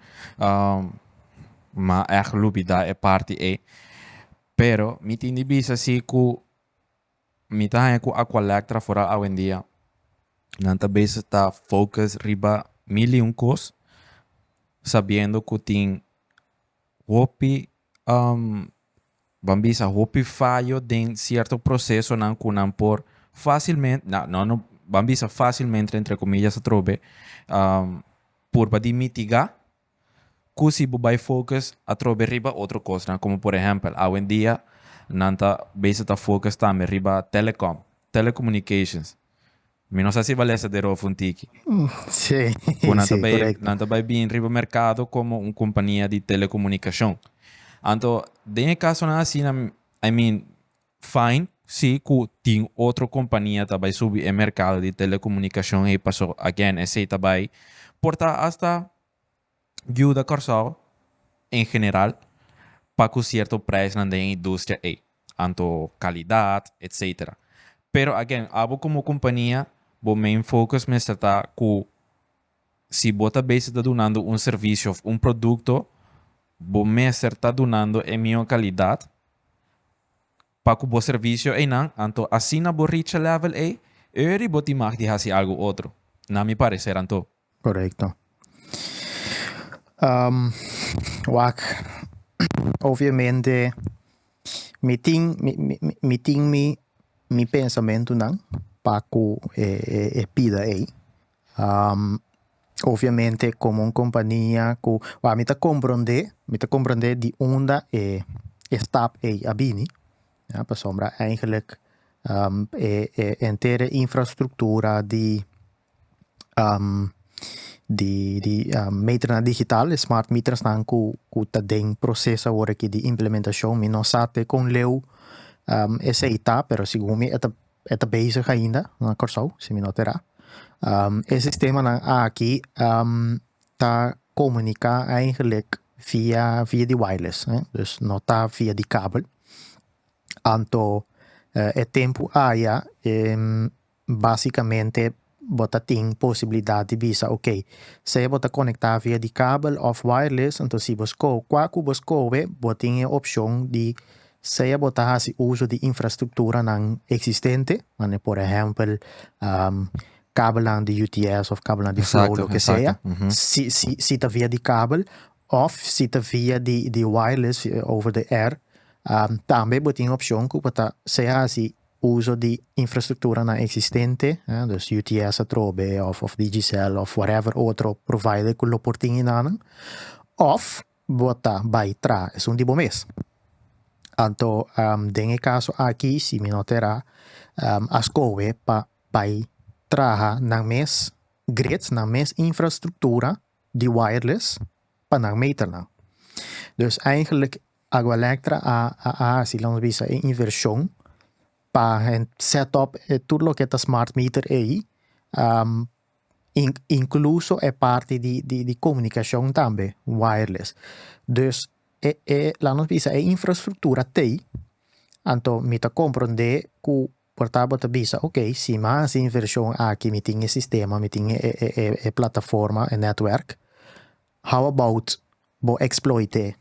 ma echt lubida e parti ey, pero mi tin di bisa si cu. Mi ta haña cu Aqualectra foral awendia nan ta bezig ta focus riba mil y un cos sabiendo cu tin hopi ban bisa hopi fayo den cierto procesonan cu nan por facilmente na no no ban bisa facilmente entre comillas atrobe purba di mitiga. Cu si bo bay focus atrobe riba otro cosnan, como por ehempel awendia nan ta bezig ta focus tambe riba telecom, telecommunications. Mi no sa si Valesa de Rofo un tiki. Sí, Cu nan ta sí, bay, correcto. nan ta bay bin riba mercado como un compania di telecomunicacion. Anto, den e casonan asina, I mean, Fine, si cu tin otro compania ta bay subi e mercado di telecomunicacion ey paso again esey ta bay por ta hasta yuda Corsou en general pa cu cierto prijsnan den e industria ey, anto calidad etc. Pero again abo como compania bo main focus mester ta cu. Si bo ta bezi ta dunando un servisio of un produkto, bo mester ta dunando e mihó kalidat pa ku bo servisio einan, anto asina bo reach e lèvel ei, öri bo tin mag di hasi algu otro, na mi pareser anto. Korekto. Wak, obviamente mi tin mi tin mi pensamentunan pa ku e pida ei, Oviamente como un compania cu, mi ta comprende, mi ta comprende di unda e e stap ei a bini, ya, pasobra eigenlijk e e entere infrastructura di di di meternan digital, e smart metersnan cu cu ta den proces awor aki di implementacion, mi no sa te con leu esei ta, pero segun mi e ta E ta bezig ainda na Kòrsou, si mi no ta erá. E sistemanan aki ta komuniká eigenlik via via di wireless, dus no ta via di kabel. Anto e tempu aya basikamente bo ta tin posibilidat di bisa ok, sea bo ta conecta via di kabel of wireless, entonces si bo sco cua cu bo scoe bo tin e opcion di sea bo ta haci uso di infrastructuranan existente, mane por ehempel kabelnan di UTS of kabelnan di flow lo ke sea, si si si ta via di kabel of si ta via di di wireless over the air tambe bo tin opcion cu bo ta sea haci Uso di infrastrukturanan eksistente, dus UTS atrobe òf Digicel òf whatever otro provider ku lo por tin hinannan, òf bo ta bai tra esun di bo mes. Anto den e kaso aki si mi no tera a skohe pa bai traha nan mes grids, nan mes infrastruktura di wireless pa nan meternan. Dus eigenlik Agualectra a a haci lo nos bisa e inversion pa hen set up e tur loke ta smart meter ey incluso e parti di di di comunicacion tambe wireless dus e e laat nos bisa e infrastructura tey anto mi ta comprende cu por ta bo ta bisa ok si mi a haci inversion aki mi tin e sistema mi tin e e e plataforma e network. How about bo exploite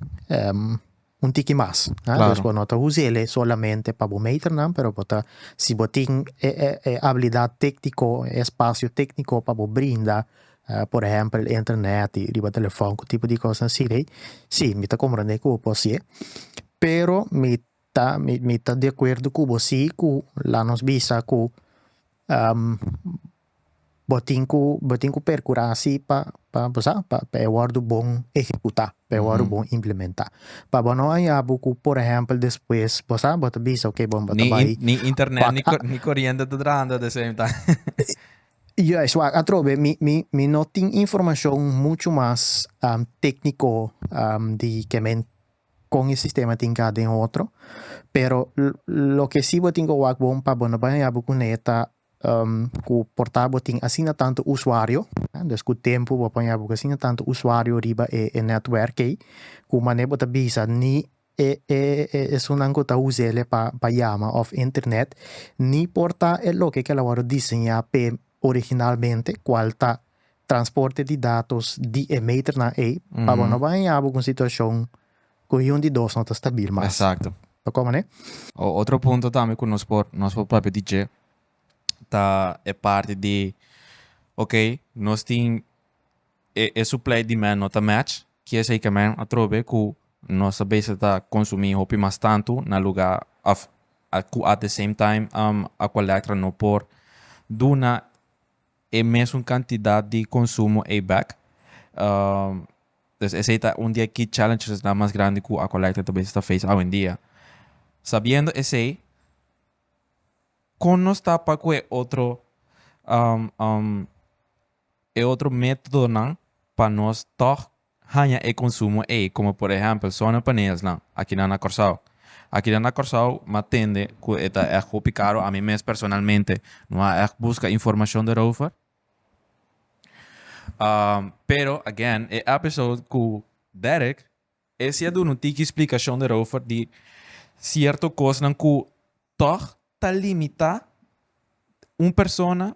un tiki mas, dus bo no ta us'ele solamente pa bo meternan pero bo ta si bo tin e abilidad tecnico, e espacio tecnico pa bo brinda por ehempel internet riba telefon cu tipo di cos asi dei si mi ta comprende cu bo por haci'e pero mi ta mi ta de acuerdo cu bo si cu la nos bisa cu Bo tin ku bo tin ku perkurá si pa pa bo sa pa e wòrdu bon ehekutá, pa e wòrdu bon implementá. Pa bo no hañabu ku por ehèmpel despues bo sa bo ta bisa oke bo bo ta bai Ni ni internet ni ko ni koriente ta trahando at the same time. Juist wak atrobe mi mi mi no tin informashon muchu mas tékniko di ke men kon e sistema tin ka den otro, pero loke si bo tin ku wak bon pa bo no bai hañabu kuné ta Ku porta bo tin asina tantu usuario, dus ku tempu bo a paña bo ku asina tantu usuario riba e netwerk ei, ku manera bo ta bisa ni e esunnan ku ta us'e pa yama òf internet ni por ta e loke ku el a wòrdu diseñá p'e originalmente, kual ta transporte di datos di e meternan ei, pa bo no baña bo ku un situashon Cu iun di dos no ta stabil mas. Exacto. Ta como ne? Otro punto tambe cu nos por nos por papia di dje ta e parti di ok nos tin e e supply y demand no ta match kier esey ke men atrobe cu nos a bese ta consumi hopi mas tantu na luga of cu at the same time Aqualectra no por duna e mesun kantidat di konsumo ei bek. Pues esei ta un di e key challengesnan mas grandi ku Aqualecta ta bes ta face awendia. Sabiendo esei, kon nos ta pa ku e otro e otro metodonan pa nos tog haña e konsumo ei komo por ehèmpel sonepaneelsnan akinan na Kòrsou. Akinan na Kòrsou mi a tende ku e ta ègt hopi karo, ami mes personalmente no a ègt buska informashon derover. Pero again e èpisode ku Derek e si a duna un tiki splikashon derover di sierto kosnan ku tòg ta limitá un persona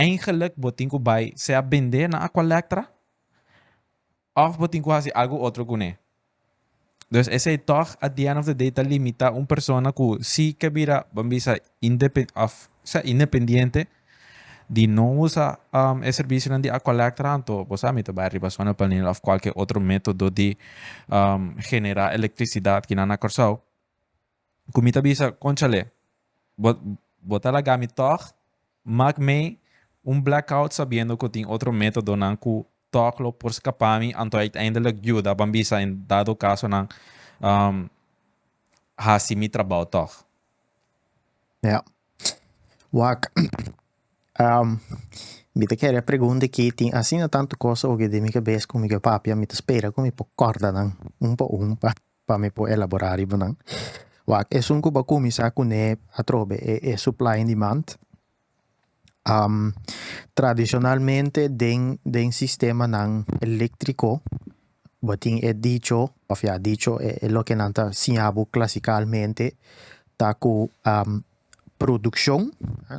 Eingelik bo tin ku bai sea bend'é na Aqualectra òf bo tin ku hasi algu otro kuné. Dus esei tòg at di end of the day ta limitá un persona ku si ke bira ban bisa independ òf sea independiente di no usa e servisionan di Aqualectra anto bo sa mi ta bai riba sona panel òf kualke otro método di generá elektrisidat kinan na Kòrsou. cu mi ta bisa, Conchale, bo, bo ta laga mi tog? Maak mee un blackout sabiendo cu tin otro metodonan cu tog lo por scapa mi anto uiteindelijk juda ban bisa en dado caso nan um, haci mi trabao tog. Ja. Wak, um, mi ta kere pregunta aki, tin asina tanto cosa oke den mi cabes cu mi ke papia, mi ta spera cu mi por corda nan un pa un pa pa mi por elabora riba nan. Wak esun ku bo kuminsa kuné atrobe e supply and demand. tradishonalmente den den sistemanan eléktriko bo tin e dicho òf ya dicho e loke nan ta siña bo klasikalmente ta ku produkshon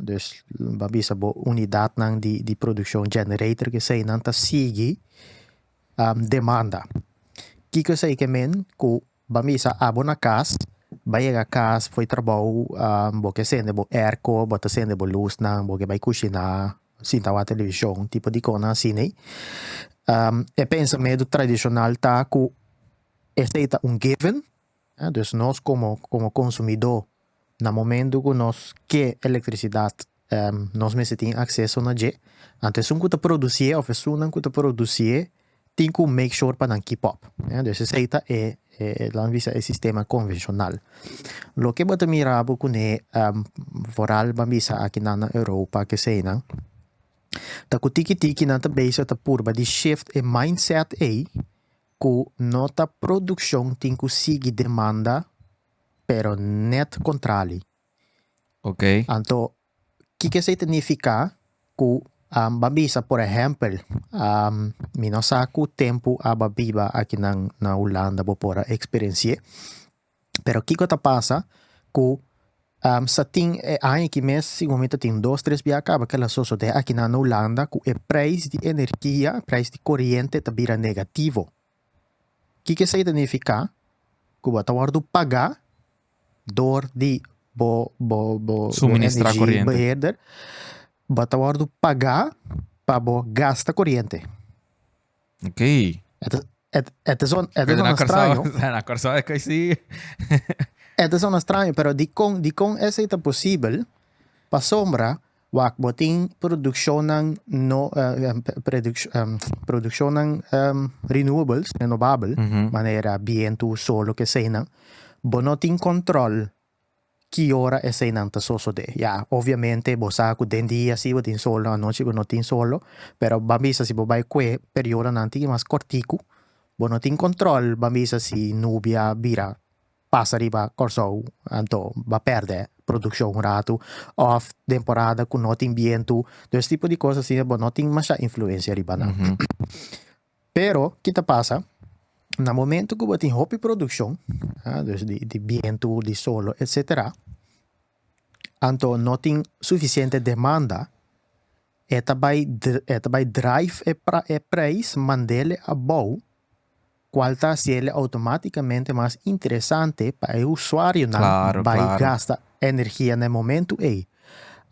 dus lo bo a bisa bo unidatnan di di produkshon generator eseinan ta sigui demanda. Kiko esei ke men ku ban bisa abo na kas, ban yega kas for trabou bo ke sende bo airco, bo ta sende bo lusnan, bo ke bai kushiná, sinta wak televishon, tipo di kosnan asinei. E pensamedu tradishonal ta ku esei ta un given. Dus nos komo komo konsumidó na momentu ku nos ke elektrisidat nos mester tin akseso na dje, anto esun ku ta produsié òf esunnan ku ta produsié tin ku make sure pa nan keep up. Dus esei ta e e lo nan bisa e sistema konvenshonal. Loke bo ta mira bo kuné foral ban bisa aki nan na Europa keseinan ta ku tiki tiki nan ta beisik ta purba di shift e mindset ei, ku no ta produkshon tin ku sigui demanda pero nèt kontrali. Ok. Anto kiko esei ta nifiká ku ban bisa por ehèmpel mi no sa ku tempu aba biba aki nan na Hulanda bo por a eksperensié. Pero kiko ta pasa ku sa tin e aña aki mes segun mi ta tin dos tres bia a kaba kel a sosodé aki nan na Hulanda ku e preis di energia e preis di koriente ta bira negativo kiko esei ta nifiká ku bo ta wòrdu pagá dor di bo bo bo energi beheerder bo ta wòrdu pagá pa bo gasta koriente. Ok. Et, et, et is on, et is on extraño. Na Curaçao é crazy. et is on extraño, pero di con, di con ese ta posible, pa sombra, wak botin produccionnan no, uh, produc, um, produccionnan um, renewables, renovable, mm -hmm. manera viento, sol, lo que sea, bo no tin control Ki ora eseinan ta sosode? Ya, obviamente bo sa cu den dia si bo tin solo, anochi bo no tin solo, pero ban bisa si bo bay cue periodonan tin mas corticu, bo no tin control ban bisa si nubia bira pasa riba Corsou anto ba perde produccion un ratu of temporada cu no tin bientu, dus tipo di cos asina bo no tin masha influencia riba nan. Pero ki ta pasa, na momento ku bo tin hopi produkshon, dus di di bientu, di solo etsetera, anto no tin sufisiente demanda, e ta bai e ta bai drive e pra e preis mand'el abou, kual ta hasiel outomatikamente mas interesante pa e usuarionan bai gasta energia na e momentu ei.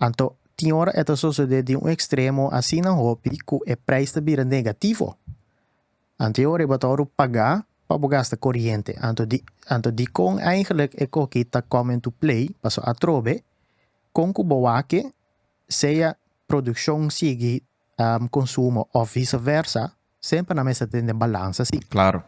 Anto Tin ora e ta sosodé di un ekstremo asina hopi ku e preis ta bira negativo. Anto ora e bataoru pagá pa bo gasta koriente? Anto di anto dikon eigentlik e koki ta komen tu plei? Paso atrobe, kon ku bo wak-e, sea produkshon sigui konsumo òf visaversa, semper nan mester tene balansa si. Claro.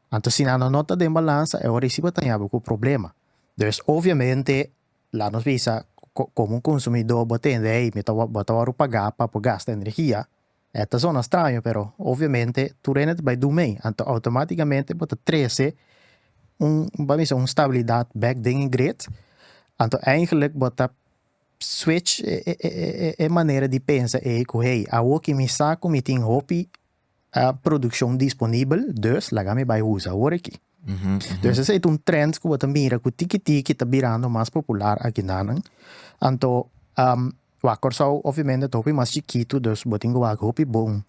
Anto si nan no ta den balansa e ora ei si bo ta yabi cu problema. Dus obviamente laat nos bisa como un consumidor bo tende hey mi ta wor bo ta wordo paga pa por gasta energia e ta zona straño pero obviamente tur hende ta bay dun mey anto automaticamente bo ta trece un bo ta bisa un stabilidad back den e grid anto eigenlic bo ta Switch e manera di pensa ei ku hey, awor ki mi sa ku mi tin hopi produkshon disponibel, dus laga mi bai usa awor aki. Dus esei ta un trend ku bo ta mira ku tiki tiki ta birando mas popular aki nanan. Anto, wak Kòrsou obviamente ta hopi mas chikitu, dus bo tin ku wak hopi bon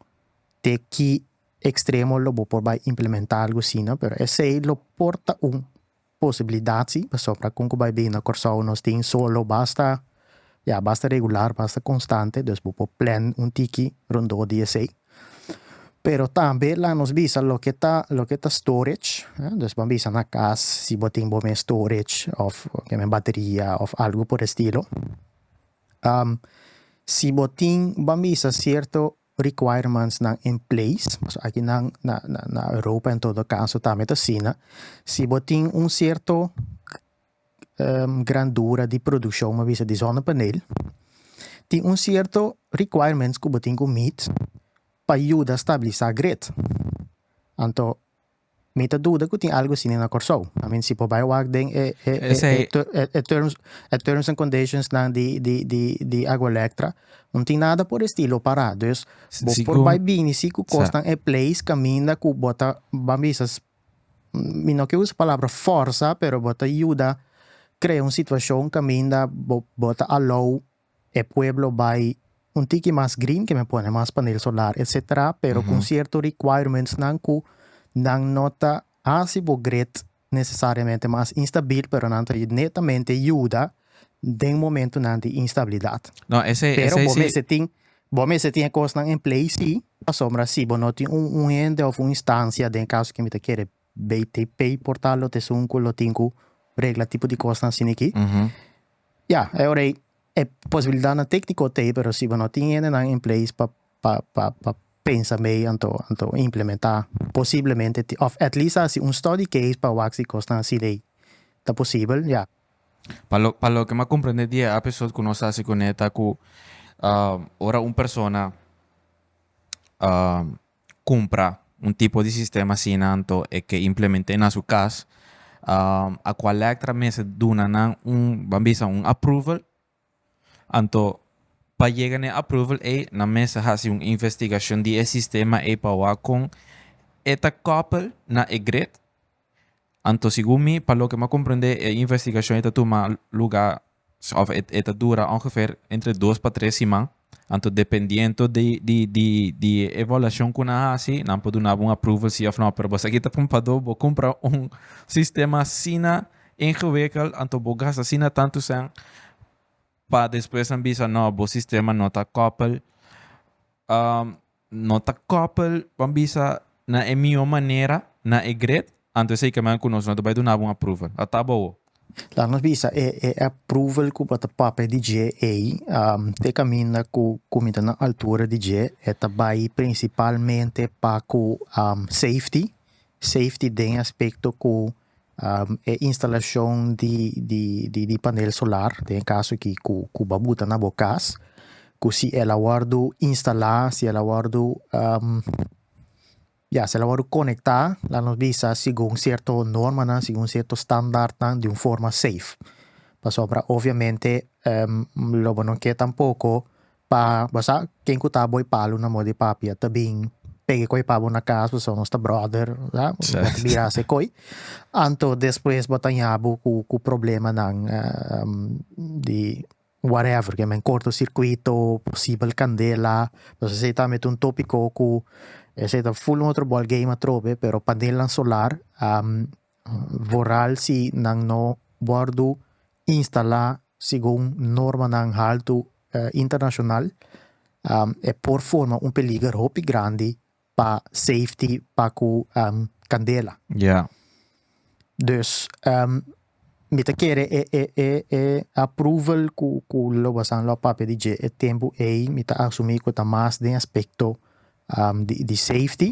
te ki ekstremo lo bo por bai implementá algu asina, pero esei lo por ta un Posibilidad si, pasobra con cu bay bini na Corsou nos tin solo basta, ya, basta regular, basta constante, dus bo por plan un tiki rondó di esey. Pero tambe laga nos bisa loke ta, loke ta storage, dus bo a bisa na cas si bo tin bo mes storage of ke men bateria of algo por e estilo. Si bo tin, bo a bisa cierto requirementsnan en place, pasobra aki na na na Europa en todo caso tambe ta asina, si bo tin un cierto grandura di produccion bo a bisa di zonnepaneel tin un cierto requirements cu bo tin cu meet pa yuda stabilisa grid anto Mi ta duda ku tin algu asina na Kòrsou. I mean si por bai wak den e e e e terms e terms and conditionsnan di di di di Agua Elektra no tin nada por e estilo pará. Dus bo por bai bini si ku kosnan e place kaminda ku bo ta ban bisa mi no ke usa palabra fòrsa pero bo ta yuda krea un situashon kaminda bo bo ta alou E pueblo bai un tiki mas green keme pone mas panel solar etc. Pero con cierto requirementsnan cu nan no ta haci bo grid necesariamente mas instabil pero nan ta netamente yuda den momentonan di instabilidad. No, esei, Pero esei bo si. mester tin, bo mester tin e cosnan en play si, pasobra si bo no tin un, un hende of un instancia den caso que mi ta kere BTP por tal lo tesun ku lo tin ku regla tipo di kosnan asina aki. Ya, e ora ei e posibilidatnan tékniko ta ei pero si bo no tin hendenan en place pa pa pa pa pensa mei anto anto implementá posiblemente tin òf at least hasi un study case pa wak si kosnan asina ei ta posibel, ya. Pa lo pa loke mi a komprendé di e episode ku nos a hasi kuné ta ku ora un persona cumpra un tipo di sistema asina anto e ke implement'é na su cas. Aqualectra mester duna nan un, ban bisa un approval. Anto pa yega n'e approval ei nan mester hasi un investigacion di e sistema ei pa wak con e ta koppel na e grid. Anto segun mi, pa loke mi a comprende e investigacion e ta tuma luga of e ta dura ongeveer entre dos pa tres siman. Anto dependiendo di di di di e evaluacion cu nan haci nan por duna bo un approval si of no. Pero boso aki ta pumpado bo cumpra un sistema asina ingewikkeld anto bo gasta asina tanto cent pa despues nan bisa no bo sistema no ta koppel. No ta koppel, ban bisa, na e mihó manera, na e gret, anto esei kaminda ku nos no ta bai dunaba un approval. Ata bowo. Laat nos bisa, e e approval ku bo ta papia di dje ei, te kaminda ku ku mi ta na altura di dje, e ta bai prinsipalmente pa ku safety, safety den e aspekto ku e instalashon di panel solar den e kaso ki ku bo buta na bo kas, ku si el a wòrdu instalá, si el a wòrdu, ya si el a wòrdu konektá laat nos bisa segun sierto normanan, segun sierto standartnan di un forma safe. Pasobra obviamente lo bo no ke tampoko pa bo sa ken ku ta bo e palu na bo di papia ta bin pega e koi pa bo na kas pasobra nos ta brother sa bo ta bira se koi anto despues bo ta yaha bo ku problemanan di whatever ke men korto sirkuito posibel kandela pasobra esei ta un topiko ku esei ta full un otro bòl game atrobe pero panelan solar voral si nan no wordu instala segun normanan haltu internashonal e por forma un peliger hopi grandi pa safety pa ku kandela. Dus mi ta kere e e e e approval ku ku lo basan lo a papia di dje e tempu ei mi ta asumi ku ta mas den aspekto di di safety.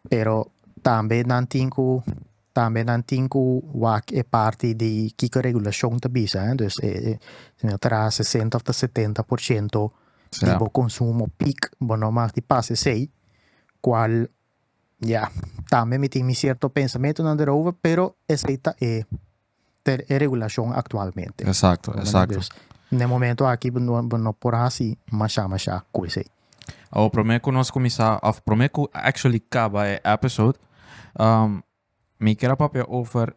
Pero tambe nan tin cu tambe nan tin cu wak e parti di kico e regulacion ta bisa, dus e si no tra sesenta of ta setenta por ciento di bo consumo peak bo no mag di pas esey, cual ya tambe mi tin mi cierto pensamentonan derover pero esey ta e per e regulashon aktualmente. Eksakto, eksakto. Dus na e momentu aki bo no bo no por hasi mashá mashá ku esei. Awor promé ku nos kuminsá òf promé ku actually kaba e episode mi kier a papia over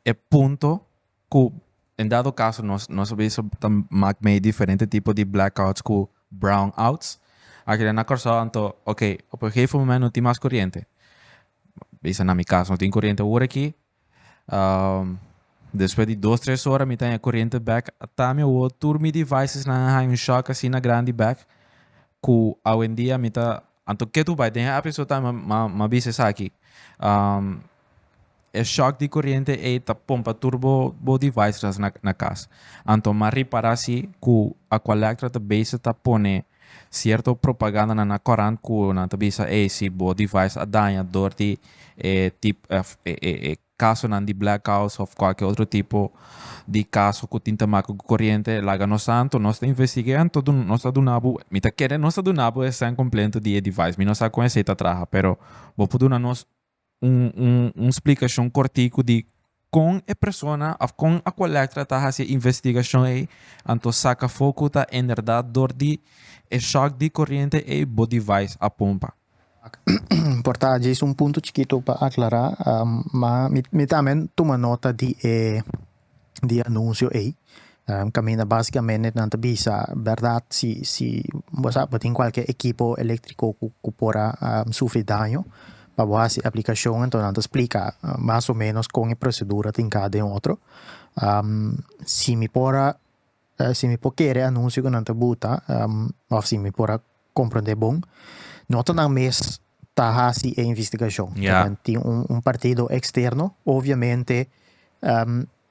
e punto ku en dado kaso nos nos a bisa ta mak mei diferente tipo di blackouts ku brownouts akeda na Kòrsou anto oke op e gegeven moment no tin mas kuriente bisa na mi kaso no tin kuriente ora aki Despues di dos tres ora mi ta haña corriente back. Ta mi awor tur mi devices nan a haña un shock asina grandi back cu awendia mi ta anto ketu bai den e episode ta mi m'a bisa esaki. E shock di corriente ei ta pompa tur bo bo devices na cas. Anto m'a ripara si cu Aqualectra ta base ta pone Sierto propagandanan na korant ku nan ta bisa ey si bo device a daña dor di e tip of e kasonan di blackouts of kualke otro tipo di kaso ku tin ta make ku koriente laga nos anto nos ta investig'e anto nos ta duna bo mi ta kere nos ta duna bo e sèn kompleto di e device mi no sa kon esei ta traha pero bo por duna nos un un un splikashon kortiku di kon e persona òf kon a kolèkta ta hasi e investigashon ei anto saka afó ku ta enderdat dor di e shòk di koriente ei bo device a pompa. Ak, por ta djis un punto chikitu pa aklará, ma mi mi tambe tuma nota di e di anuncio ey caminda basicamente nan ta bisa berdad si si bo sa bo tin cualkier equipo electrico cu por a sufri daño pa bo haci aplicacion enton nan ta splica mas o menos con e procedura tin cada un otro si mi por a Si mi por kere e anuncio cu nan ta buta, of si mi por a comprende bon, no ta nan mes ta haci e investigacion. Ta den tin un partido externo, obviamente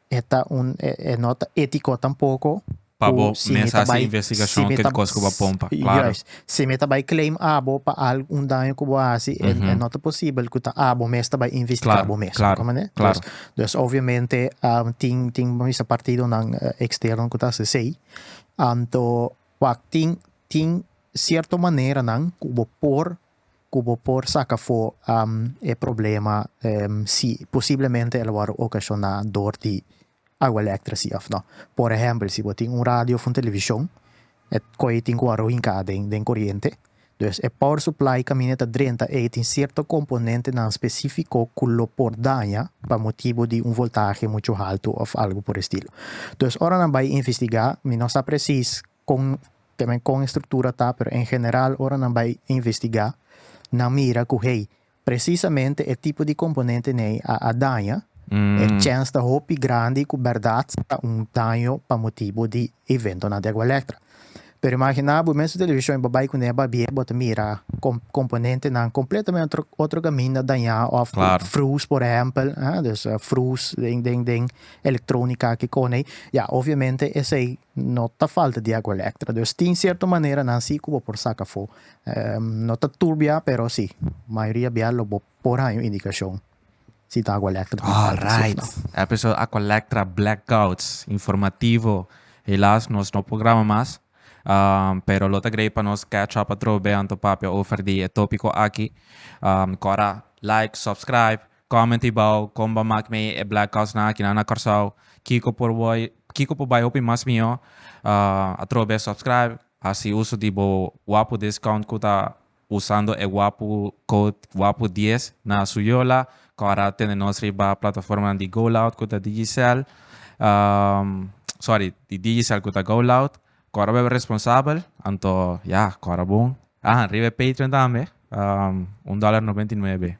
e ta un, e no ta etico tampoco, cu si mi ta bay, si mi ta, juist, si mi ta bai claim abo pa algo, un daño ku bo hasi, e mm -hmm. no ta posibel ku ta abo mes ta bai investigá bo mes. Claro, claro. Dus, dus obviamente um, tin tin misa partidonan uh, eh, eksterno ku ta hasi sei. Anto wak tin tin sierto maneranan ku bo por ku bo por saka fo um, e problema um, si posiblemente el wòrdu okashoná dor di Awa elektra si òf nò. Por ehèmpel, si bo tin un radio òf un televishon, e kòye tin ku wòrdu hinká den den koriente. Dus e power supply kaminda ta drenta ei tin sierto komponentenan spesífiko ku lo por daña pa motibu di un voltahe muchu haltu òf algu por e estilo. Dus ora nan bai investigá, mi no sa presis kon te men kon e struktura ta, pero en general ora nan bai investigá nan mira ku hey, Presisamente e tipo di komponente nei a a daña, e chèns ta hopi grandi ku bèrdat ta un daño pa motibu di eventonan di Agualectra. Pero imaginá bo mes su televishon i bo bai kuné babie, bo ta mira kom komponentenan kompletamente otro otro kaminda dañá òf frùs por ehèmpel, a, dus frùs den den den elektrónika aki kònei. Ya, obviamente esei No ta falta di agua electra, dus tin cierto manera nan si cu bo por saca afo. No ta tur bia, pero si, mayoria bia lo bo por haña un indicacion si ta agua electra cu falta si of Alright. no. Episode Aqualectra Blackouts. Informativo. Helaas nos no por graba mas. Pero lo ta grei pa nos catch up atrobe anto papia over di e topico aki. Cora like, subscribe. Comment hibao con bo mak mee e black cos nan akinan na Corsao kiko por woi kiko por bai hopi mas mihó atrobe subscribe haci uso di bo wapu discount cu ta usando e wapu code wapu dies na su yola cu a ra tende nos riba plataformanan di go loud cu ta Digicel sorry di Digicel cu ta go loud cu a raweb responsabel anto ya cu a ra bon ah riba e Patreon tambe un dollar noventa y nuebe.